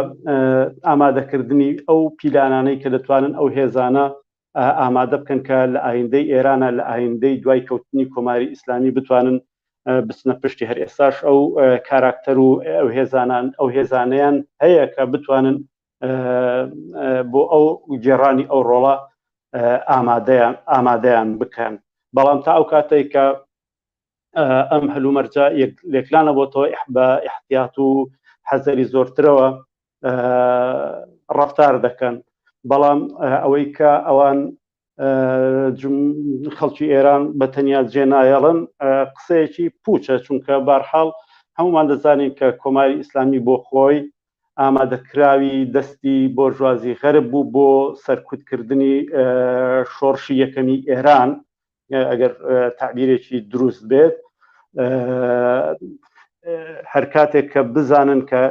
ئامادەکردنی ئەو پیلانانەی کە دەتوانن ئەو هێزانە ئامادە بکەن کە لە ئایندەی ئێرانە لە ئایندەی دوای کەوتنی کۆماری ئیسلامی بتوانن بچنە پشتی هەر ئێستاش ئەو کاراکتەر و ئەو هێزانان ئەو هێزانیان هەیە کە بتوانن بۆ ئەو گێڕانی ئەو ڕۆڵە ئامادەیان ئامادەیان بکەن بەڵام تا ئەو کاتێک کە ئەم هەلومەرجە لێکلانە بۆ تۆ بە احتیات و حەزەری زۆرترەوە ڕفتار دەکەن بەڵام ئەوەی کە ئەوان خەڵکی ئێران بە تەنیا جێنایەڵن قسەیەکی پوچە چونکە بارحاڵ هەمومان دەزانین کە کۆماری ئیسلامی بۆ خۆی ئامادەکراوی دەستی بۆرژوازی غەرب بوو بۆ سەرکوتکردنی شۆڕشی یەکەمی ئێران ئەگەر تعبیرێکی دروست بێت هەر کاتێک کە بزانن کە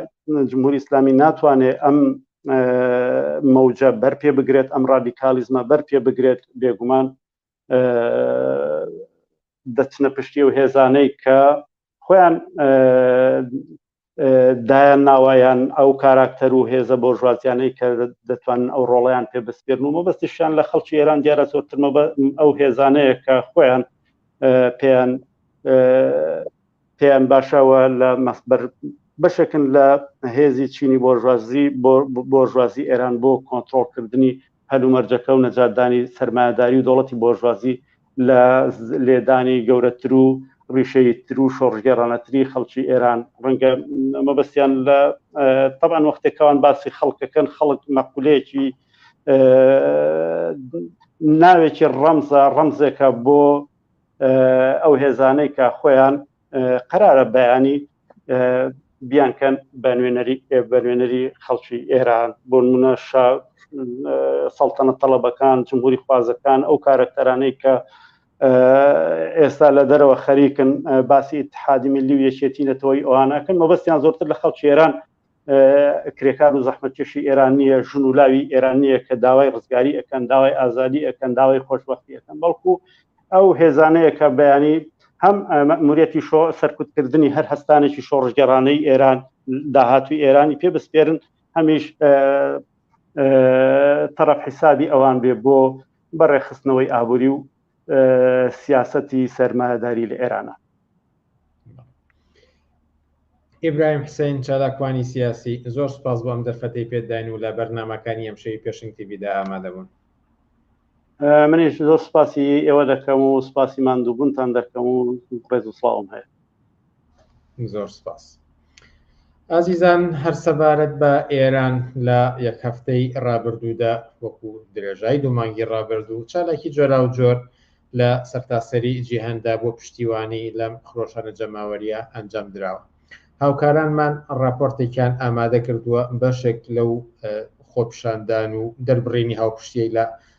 جمهوری ئسلامی ناتوانێت ئەم مەوجە بەر پێ بگرێت ئەم ڕادیکالیزمە بەر پێ بگرێت بێگومان دەچنە پشتی و هێزانەی کە خۆیان دایان ناوایان ئەو کاراکتەر و هێزە بۆ ژوازیانەی کە دەتوانن ئەو ڕۆڵیان پێ بسپێرن و مەبەستیشیان لە خەڵکی ئێران دیارە زۆرترمە بە ئەو هێزانەیە کە خۆیان پێیان پێیان باشەوە لە مەسبەر بەشێکن لە هێزی چینی بۆژوازی بۆژوازی ئێران بۆ کۆنتترۆلکردنی هەلومەرجەکە و نەجاتدانی سەرمایەداری و دەوڵەتی بۆرژوازی لە لێدانی گەورەتر و ڕیشەییتر و شۆڕشگێڕانەتری خەڵکی ئێران، ڕەنگە مەبەستیان لە تەبعەن وەختێک کە ئەوان باسی خەڵک دەکەن، خەڵک مەقولەیەکی ناوێکی ڕەمزە، ڕەمزێکە بۆ ئەو هێزانەی کە خۆیان قەرارە بەیانی بیانکەن بە نوێنەری بە نوێنەری خەڵکی ئێران بۆ منە سەڵتەنە تەڵەبەکان جمهوری خوازەکان ئەو کارەکتەرانەی کە ئێستا لە دەرەوە خەریکن باسی اتحادی ملی و یەکێتی نەتەوەی ئەوانەکەن مەبەستیان زۆرتر لە خەڵکی ئێران کرێکار و زەحمەتکێشی ئێران نییە ژن و لاوی ئێران نییە کە داوای ڕزگاری ئەەکەن داوای ئازادی ئەەکەن داوای خۆشببختی ئەەکەن بەڵکو ئەو هێزانەیە کە بەیانی هەم مەموریەتی شۆ سەرکوتکردنی هەر هەستانێکی شۆڕژگەڕانەی ئێران داهاتوی ئێرانی پێ بسپێرن هەمیش تەرەف حیسابی ئەوان بێ بۆ بەڕێخستنەوەی ئابووری و سیاسەتی سەرمایەداری لە ئێرانە ئیبراهیم حسین چالاکوانی سیاسی زۆر سپاس بۆم دەرفەتی پێداین و لە بەرنمەکانی ئەم شەوی پێشنگ تیبیدا ئامادەبوون منیش زۆر سپاسی ئێوە دەکەم و سپاسی ماندووبوونتان دەکەم و ڕێز و سڵاوم هەیە زۆر سپاس ئازیزان هەر سەبارەت بە ئێران لە یەک هەفتەی ڕابردوودا وەکو درێژای دوو مانگی ڕابردوو چالاکی جۆرا و جۆر لە سەرتاسەری جیهاندا بۆ پشتیوانی لەم خرۆشانە جەماوەریە ئەنجام دراوە هاوکارانمان ڕاپۆرتێکیان ئامادە کردووە بەشێک لەو خۆپشاندان و دەربڕینی هاوپشتیی لە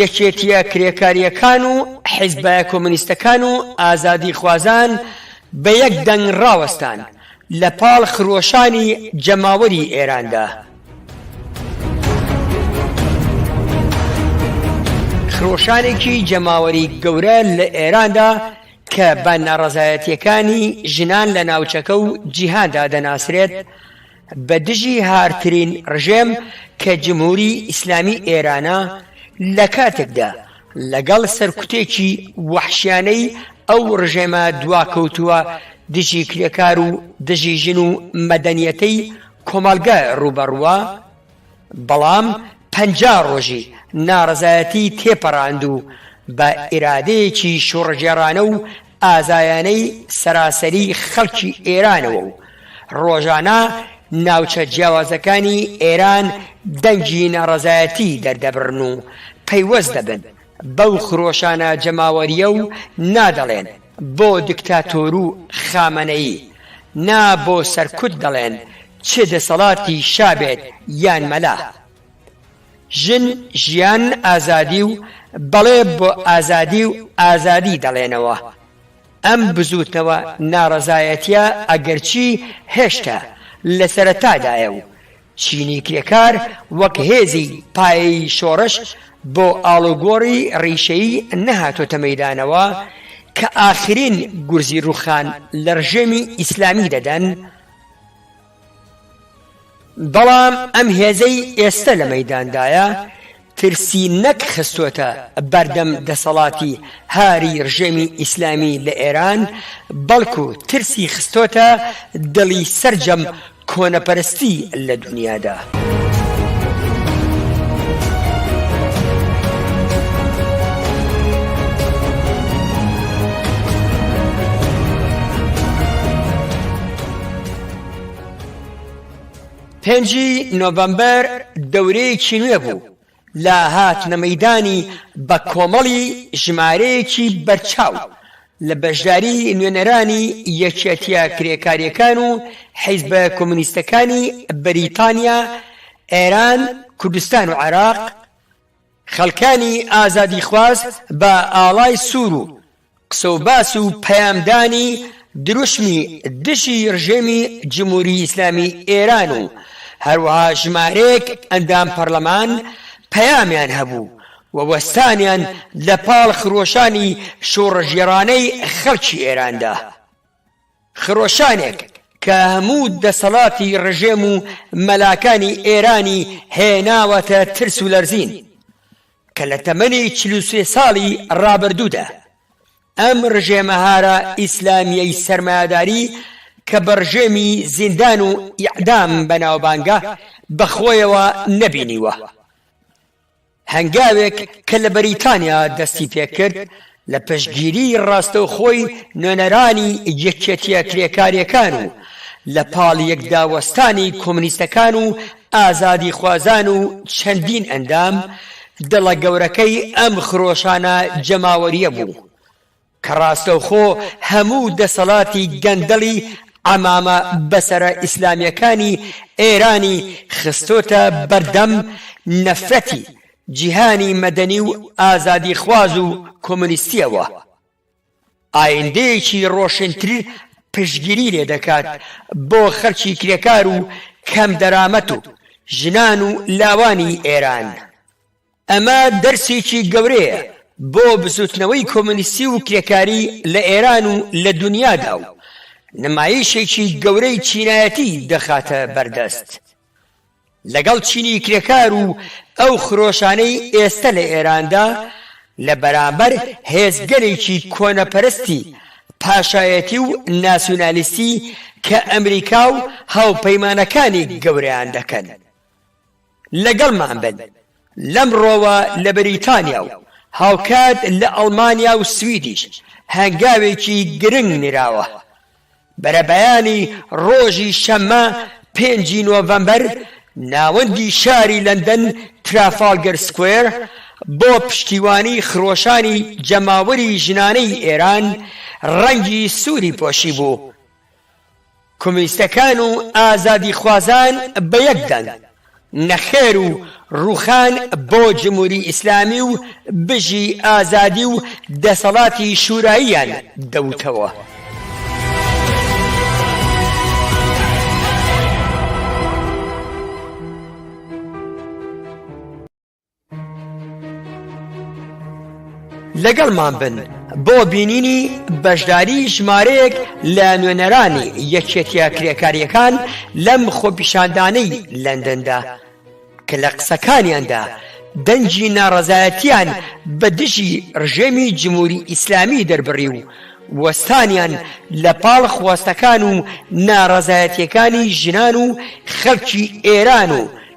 یەکێتییە کرێکارییەکان و حیزبە کۆمۆنیستەکان و ئازادیخوازان بە یەک دەنگ ڕاوەستان لە پاڵ خرۆشانی جەماوەری ئێراندا. خرۆشانێکی جەماوەری گەورە لە ئێراندا کە بە ناڕەزایەتییەکانی ژنان لە ناوچەکە و جیهاندا دەناسرێت، بە دژی هارترین ڕژێم کە جمهوری ئیسلامی ئێرانە لە کاتێکدا لە گەڵ سەرکوتێکی وەحشیانەی ئەو ڕژێمە دواکەوتووە دژی کرێکار و دژی ژن و مەدەنیەتەی کۆمەڵگە ڕووبەڕووە، بەڵام پەنجا ڕۆژی ناڕەزایەتی تێپەڕاند و بە ئیرادەیەکی شۆڕشگێڕانە و ئازایانەی سەراسەری خەڵکی ئێرانەوە و ڕۆژانە ناوچە جیاوازەکانی ئێران دەنگی ناڕەزایەتی دەردەبڕن و پەیوەست دەبن بەو خرۆشانە جەماوەرییە و نادەڵێن بۆ دکتاتۆرو خامەنەیی نا بۆ سەرکوت دەڵێن چ دەسەڵاتی شا بێت یان مەلا ژن ژیان ئازادی و بەڵێ بۆ ئازادی و ئازادی دەڵێنەوە ئەم بزوتنەوە ناڕەزایەتیە ئەگەرچی هێشتا لەسەرەتادایە و چینی کرێکار وەک هێزی پایەیی شۆڕش بۆ ئاڵوگۆڕی ڕیشەیی نەهاتۆتە مەیدانەوە کە ئاخرین گورزی ڕووخان لە ڕژێمی ئیسلامی دەدەن، بەڵام ئەم هێزەی ئێستە لە مەیداندایە ترسی نەک خستۆتە بەردەم دەسەڵاتی هاری رژێمی ئیسلامی لە ئێران، بەڵکو ترسی خستۆتە دڵی سەرجەم کۆنەپەرستی لە دونیادا. پێنج ی نۆڤەمبەر دەورەیەکی نوێ بوو لە هاتنە مەیدانی بە کۆمەڵی ژمارەیەکی بەرچاو لە بەشداری نوێنەرانی یەکێتیە کرێکاریەکان و حیزبە کۆمۆنیستەکانی بەریتانیا، ئێران، کوردستان و عێراق، خەڵکانی ئازادیخواز بە ئاڵای سوور و قسەوباس و پەیامدانی دروشمی دژی رژێمی جمهوری ئیسلامی ئێران و هەروەها ژمارەیەک ئەندام پەرلەمان پەیامیان هەبوو و وەستانیان لە پاڵ خرۆشانی شۆڕشگێڕانەی خەڵکی ئێراندا، خرۆشانێک کە هەموو دەسەڵاتی رژێم و مەلاکانی ئێرانی هێناوەتە ترس و لەرزین. کە لە تەمەنی چل و سێ ساڵی ڕابردوودا ئەم ڕژێمە هارا ئیسلامیەی سەرمایەداری کە بە ڕژێمی زیندان و ئیعدام بەناوبانگە بە خۆیەوە نەبینیوە. هەنگاوێک کە لە بەریتانیا دەستی پێکرد لە پشتگیری ڕاستەوخۆی نوێنەرانی یەکێتیە کرێکاریەکان و لە پاڵ یەکدا وەستانی کۆمونیستەکان و ئازادیخوازان و چەندین ئەندام، دڵە گەورەکەی ئەم خرۆشانە جەماوەریە بوو، کە ڕاستەوخۆ هەموو دەسەڵاتی گەندەڵی عەمامە بەسەرە ئیسلامیەکانی ئێرانی خستۆتە بەردەم نەفرەتی جیهانی مەدەنی و ئازادیخواز و کۆمۆنیستییەوە، ئایندەیەکی ڕۆشنتر پشتگیری لێ دەکات بۆ خەڵکی کرێکار و کەم دەرامەت و ژنان و لاوانی ئێران. ئەمە دەرسێکی گەورەیە بۆ بزووتنەوەی کۆمۆنیستی و کرێکاری لە ئێران و لە دونیادا و نمایشێکی گەورەی چینایەتی دەخاتە بەردەست. لەگەڵ چینی کرێکار و ئەو خرۆشانەی ئێستە لە ئێراندا لە بەرامبەر هێزگەلێکی کۆنەپەرستی پاشایەتی و ناسیونالیستی کە ئەمریکا و هاوپەیمانەکانی گەورەیان دەکەن لەگەڵمان بن لەمڕۆوە لە بەریتانیا و هاوکات لە ئەڵمانیا و سویدیش هەنگاوێکی گرنگ نراوە بەرەبەیانی ڕۆژی شەممە پێنجی نۆڤەمبەر ناوەندی شاری لەندەن ترافالگەر سکوێر بۆ پشتیوانی خرۆشانی جەماوەری ژنانەی ئێران ڕەنگی سووری پۆشیبوو. کۆمیستەکان و ئازادیخوازان بە یەک دەنگ نەخێر و ڕوخان بۆ جموری ئیسلامی و بژی ئازادی و دەسەڵاتی شوراییان دەوتەوە. لەگەڵمان بن بۆ بینینی بەشداری ژمارەیەک لە نوێنەرانی یەکێتیە کرێکاریەکان لەم خۆپیشاندانەی لەندەندا کە لە قسەکانیاندا دەنجی ناڕەزایەتیان بە دژی ڕژێمی جمهوری ئیسلامی دەربڕی و وەستانیان لە پاڵ خواستەکان و ناڕەزایەتیەکانی ژنان و خەلکی ئێران و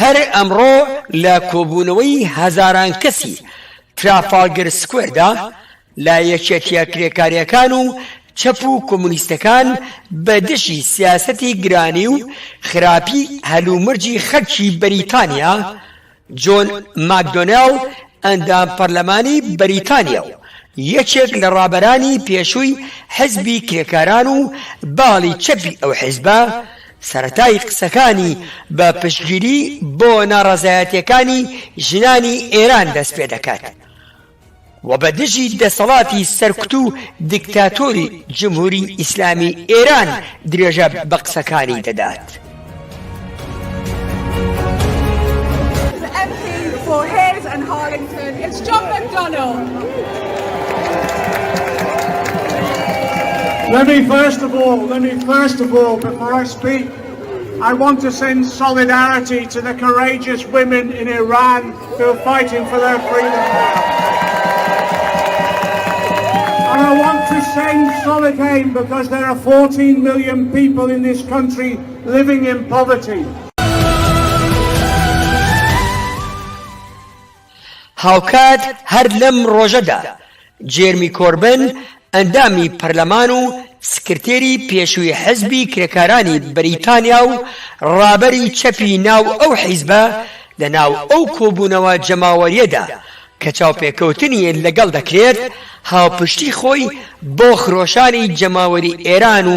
هەر ئەمڕۆ لە کۆبوونەوەی هەزاران کەسی ترافاڵگەر سکوێردا لە یەکێتیە کرێکاریەکان و چەپ و کۆمونیستەکان بە دژی سیاسەتی گرانی و خراپی هەلومەرجی خەلکی بەریتانیا جۆن ماکدۆنێل ئەندام پەرلەمانی بەریتانیا و یەکێک لە ڕابەرانی پێشووی حزبی کرێکاران و باڵی چەپی ئەو حزبە، سەرەتای قسەکانی بە پشتگیری بۆ ناڕەزایەتییەکانی ژنانی ئێران دەستپێدەکات. و بە دژی دەسەڵاتی سەرکوت و دیکتاتۆری جمهوری ئیسلامی ئێران درێژە بە قسەکانی دەدات. هاوکات هەر لەم ڕۆژەدا، جێرمی کۆربن، ئەندامی پەرلەمان و سکرتێری پێشووی حزبی کرێکارانی بەریتانیا و ڕابەری چەپی ناو ئەو حیزبە لە ناو ئەو کۆبوونەوە جەماوەریەدا کە چاوپێکەوتنی لەگەڵ دەکرێت هاوپشتی خۆی بۆ خرۆشانی جەماوەری ئێران و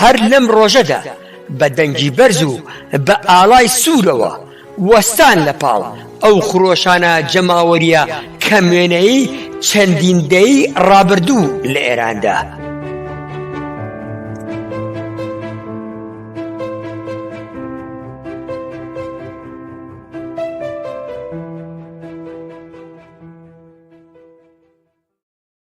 هەر لەم ڕۆژەدا بە دەنگی بەرز و بە ئاڵای سوورەوە وەستان لە پاڵ ئەو خرۆشانە جەماوەرییە کەموێنەیەی چەندین دەیەی ڕابردوو لە ئێراندا.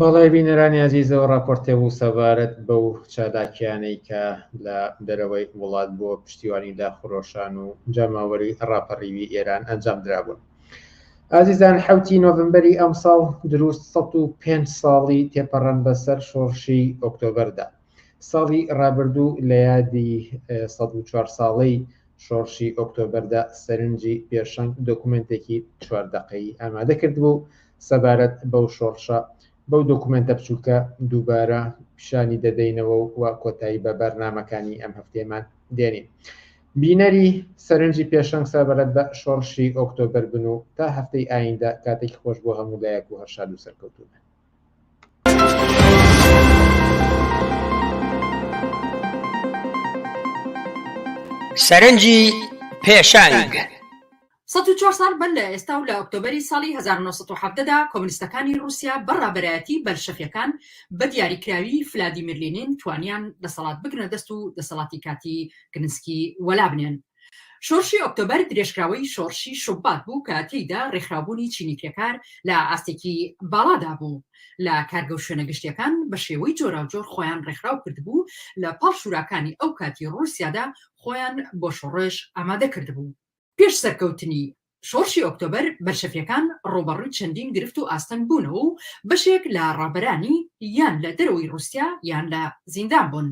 بەڵێ بینەرانی ئازیزەوە ڕاپۆرتێ بوو سەبارەت بەو چالاکیانەی کە لە دەرەوەی وڵات بۆ پشتیوانی لە خرۆشان و جەماوەری ڕاپەڕیوی ئێران ئەنجام درابوون. ئازیزان حوتی نۆڤمبەری ئەمساڵ دروست 105 ساڵی تێپەڕەن بەسەر شۆڕشی ئۆکتۆبەردا. ساڵی ڕابردوو لە یادی 104 ساڵەی شۆڕشی ئۆکتۆبەردا سەرنجی پێشەنگ دۆکومێنتێکی چوار دەقەیی ئامادە کردبوو سەبارەت بەو شۆڕشە بەو دۆکومێنتە بچووکە دووبارە پیشانی دەدەینەوە و وا کۆتایی بە بەرنامەکانی ئەم هەفتەیەمان دێنین بینەری سەرنجی پێشەنگ سەبارەت بە شۆڕشی ئۆکتۆبەر بن و تا هەفتەی ئایندە کاتێکی خۆش بۆ هەموو لایەک و هەرشاد و سەرکەوتوبن سەرنجی پێشەنگ. سەد و چوار ساڵ بەر لە ئێستا و لە ئۆکتۆبەری ساڵی هەزار و نۆ سەد و حەڤدە دا کۆمنستەکانی ڕووسیا بە ڕابەرایەتی بەلشەفیەکان بە دیاریکراوی فلادیمیر لینین توانیان دەسەڵات بگرنە دەست و دەسەڵاتی کاتی گنسکی وەلا بنێن. شۆرشی ئۆکتۆبەر درێژکراوەی شۆڕشی شوبات بوو کە تێیدا ڕێکخراوبوونی چینی کرێکار لە ئاستێکی باڵادا بوو لە کارگە و شوێنە گشتیەکان بە شێوەی جۆراوجۆر خۆیان ڕێکخراو کردبوو لە پاڵ شوراکانی ئەو کاتی ڕووسیادا خۆیان بۆ شۆڕش ئامادە کردبوو. پێش سەرکەوتنی شۆڕشی ئۆکتۆبەر، بەلشەفیەکان ڕووبەڕووی چەندین گرفت و ئاستەنگ بوونەوە و بەشێک لە ڕابەرانی یان لە دەرەوەی ڕووسیا یان لە زیندان بوون،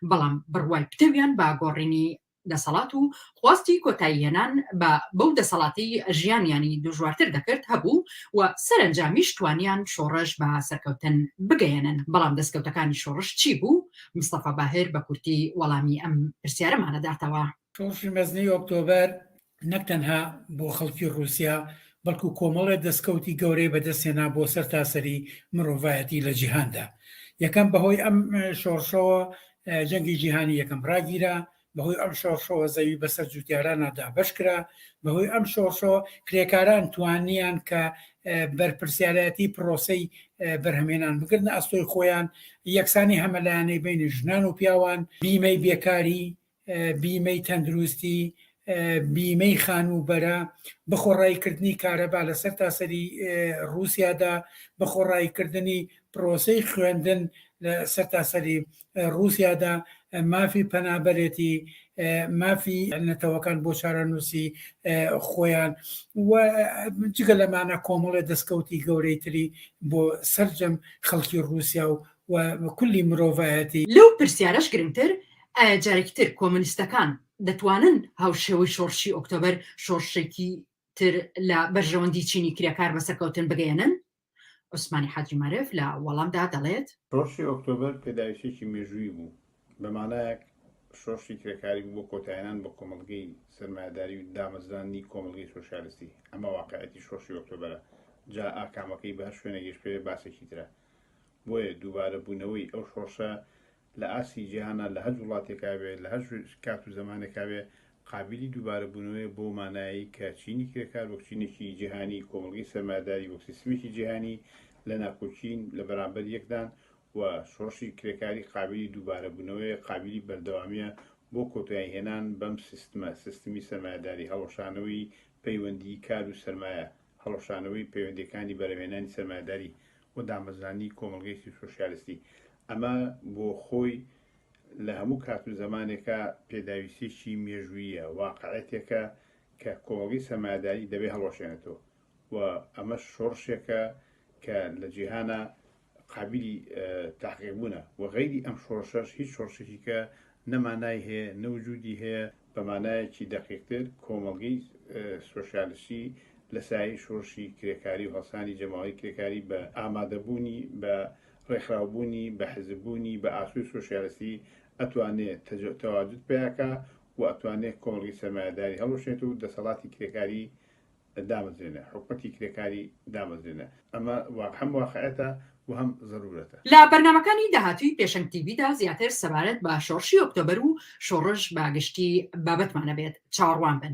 بەڵام بڕوای پتەویان بە گۆڕینی دەسەڵات و خواستی کۆتایی هێنان بە بەو دەسەڵاتەی ژیانیانی دژوارتر دەکرد هەبوو و سەرەنجامیش توانیان شۆڕش بە سەرکەوتن بگەیەنن، بەڵام دەسکەوتەکانی شۆڕش چی بوو؟ مستەفا باهر بە کورتی وەڵامی ئەم پرسیارەمانە داتەوە. شۆڕشی مەزنی ئۆکتۆبەر نەک تەنها بۆ خەڵکی ڕووسیا بەڵکو کۆمەڵێ دەستکەوتی گەورەی بەدەستێنا بۆ سەر تاسەری مرۆڤایەتی لە جیهاندا یەکەم بەهۆی ئەم شۆڕشەوە جەنگی جیهانی یەکەم ڕاگیرا بەهۆی ئەم شۆڕشەوە زەوی بەسەر جوتیارانە دابش کرا بەهۆی ئەم شۆڕشەوە کرێکاران توانیان کە بەرپرسیارەتی پرۆسی بەرهەمێنان بگرن ئەستۆی خۆیان یەکسانی هەمەلایەنەی بینی ژنان و پیاوان بیمەی بێکاری بیمەی تەندروستی، بیمەی خانووبەرە، بەخۆڕاییکردنی کارەبا لە سەرتاسەری ڕووسیادا، بەخۆڕاییکردنی پرۆسەی خوێندن لە سەرتاسەری ڕووسیادا، مافی پەنابەرێتی، مافی نەتەوەکان بۆ چارەنووسی خۆیان و جگە لەمانە کۆمەڵێ دەستکەوتی گەورەی تری بۆ سەرجەم خەڵکی ڕووسیا و و کولی مرۆڤایەتی. لەو پرسیارەش گرنگتر، ئایا جارێکی تر کۆمۆنیستەکان دەتوانن هاوشێوەی شۆڕشی ئۆکتۆبەر شۆڕشێکی تر لە بەرژەوەندی چینی کرێکار بە سەرکەوتن بگەیەنن؟ عوسمانی حاجی مارف لە وەڵامدا دەڵێت. شۆڕشی ئۆکتۆبەر پێداویستییەکی مێژوویی بوو، بە مانایەک شۆڕشی کرێکاری بوو بۆ کۆتایهێنان بە کۆمەڵگەی سەرمایەداری و دامەزراندنی کۆمەڵگەی سۆسیالیستی، ئەمە واقیعیەتی شۆڕشی ئۆکتۆبەرە، جا ئاکامەکەی بە هەر شوێنێک گەشت بکرێت باسێکی ترە. بۆیە دووبارە بوونەوەی ئەو شۆڕشە لە ئاستی جیهانا لە هەر وڵاتێکا بێ لە هەر کات و زەمانێکا بێ قابیلی دووبارە بوونەوەیە بەو مانایەی کە چینی کرێکار وەک چینێکی جیهانی کۆمەڵگەی سەرمایەداری وەک سیستمێکی جیهانی لە ناکۆکین لە بەرامبەر یەکدان و شۆڕشی کرێکاری قابیلی دووبارە بوونەوەیە قابیلی بەردەوامیە بۆ کۆتایی هێنان بەم سیستمە سیستمی سەرمایەداری هەڵوەشانەوەی پەیوەندی کار و سەرمایە هەڵوەشانەوەی پەیوەندیەکانی بەرەڤێنانی سەرمایەداری و دامەزراندنی کۆمەڵگەیەکی سۆشیالستی. ئەمە بۆ خۆی لە هەموو کات و زەمانێکا پێداویستیەکی مێژووییە، واقعیەتێکە کە کۆمەڵگەی سەرمایەداری دەبێ هەڵوەشێنێتەوە و ئەمەش شۆڕشێکە کە لە جیهانا قابیلی تەحقیق بوونە وە غەیری ئەم شۆڕشەش هیچ شۆڕشێکی کە نە مانای هەیە نە وجودی هەیە بە مانایەکی دەقیقتر کۆمەڵگەی سۆشیالستی لە سایەی شۆڕشی کرێکاری و هەڵسانی جەماوەری کرێکاری بە ئامادەبوونی بە ڕێکخراوبوونی بە حزب بوونی بە ئاسۆی سۆشیالستی ئەتوانێ تەواجود پەیا کا و ئەتوانێ کۆمەڵگەی سەرمایەداری هەڵوەشێنێت و دەسەڵاتی کرێکاری دامەزرێنە، حکومەتی کرێکاری دامەزرێنە، ئەمە هەم واقعیەتە و هەم زەرورەتە. لە بەرنامەکانی داهاتووی پێشەنگ تی ڤی دا زیاتر سەبارەت بە شۆڕشی ئۆکتۆبەر و شۆڕش بە گشتی بابەتمان ئەبێت، چاوەڕوان بن.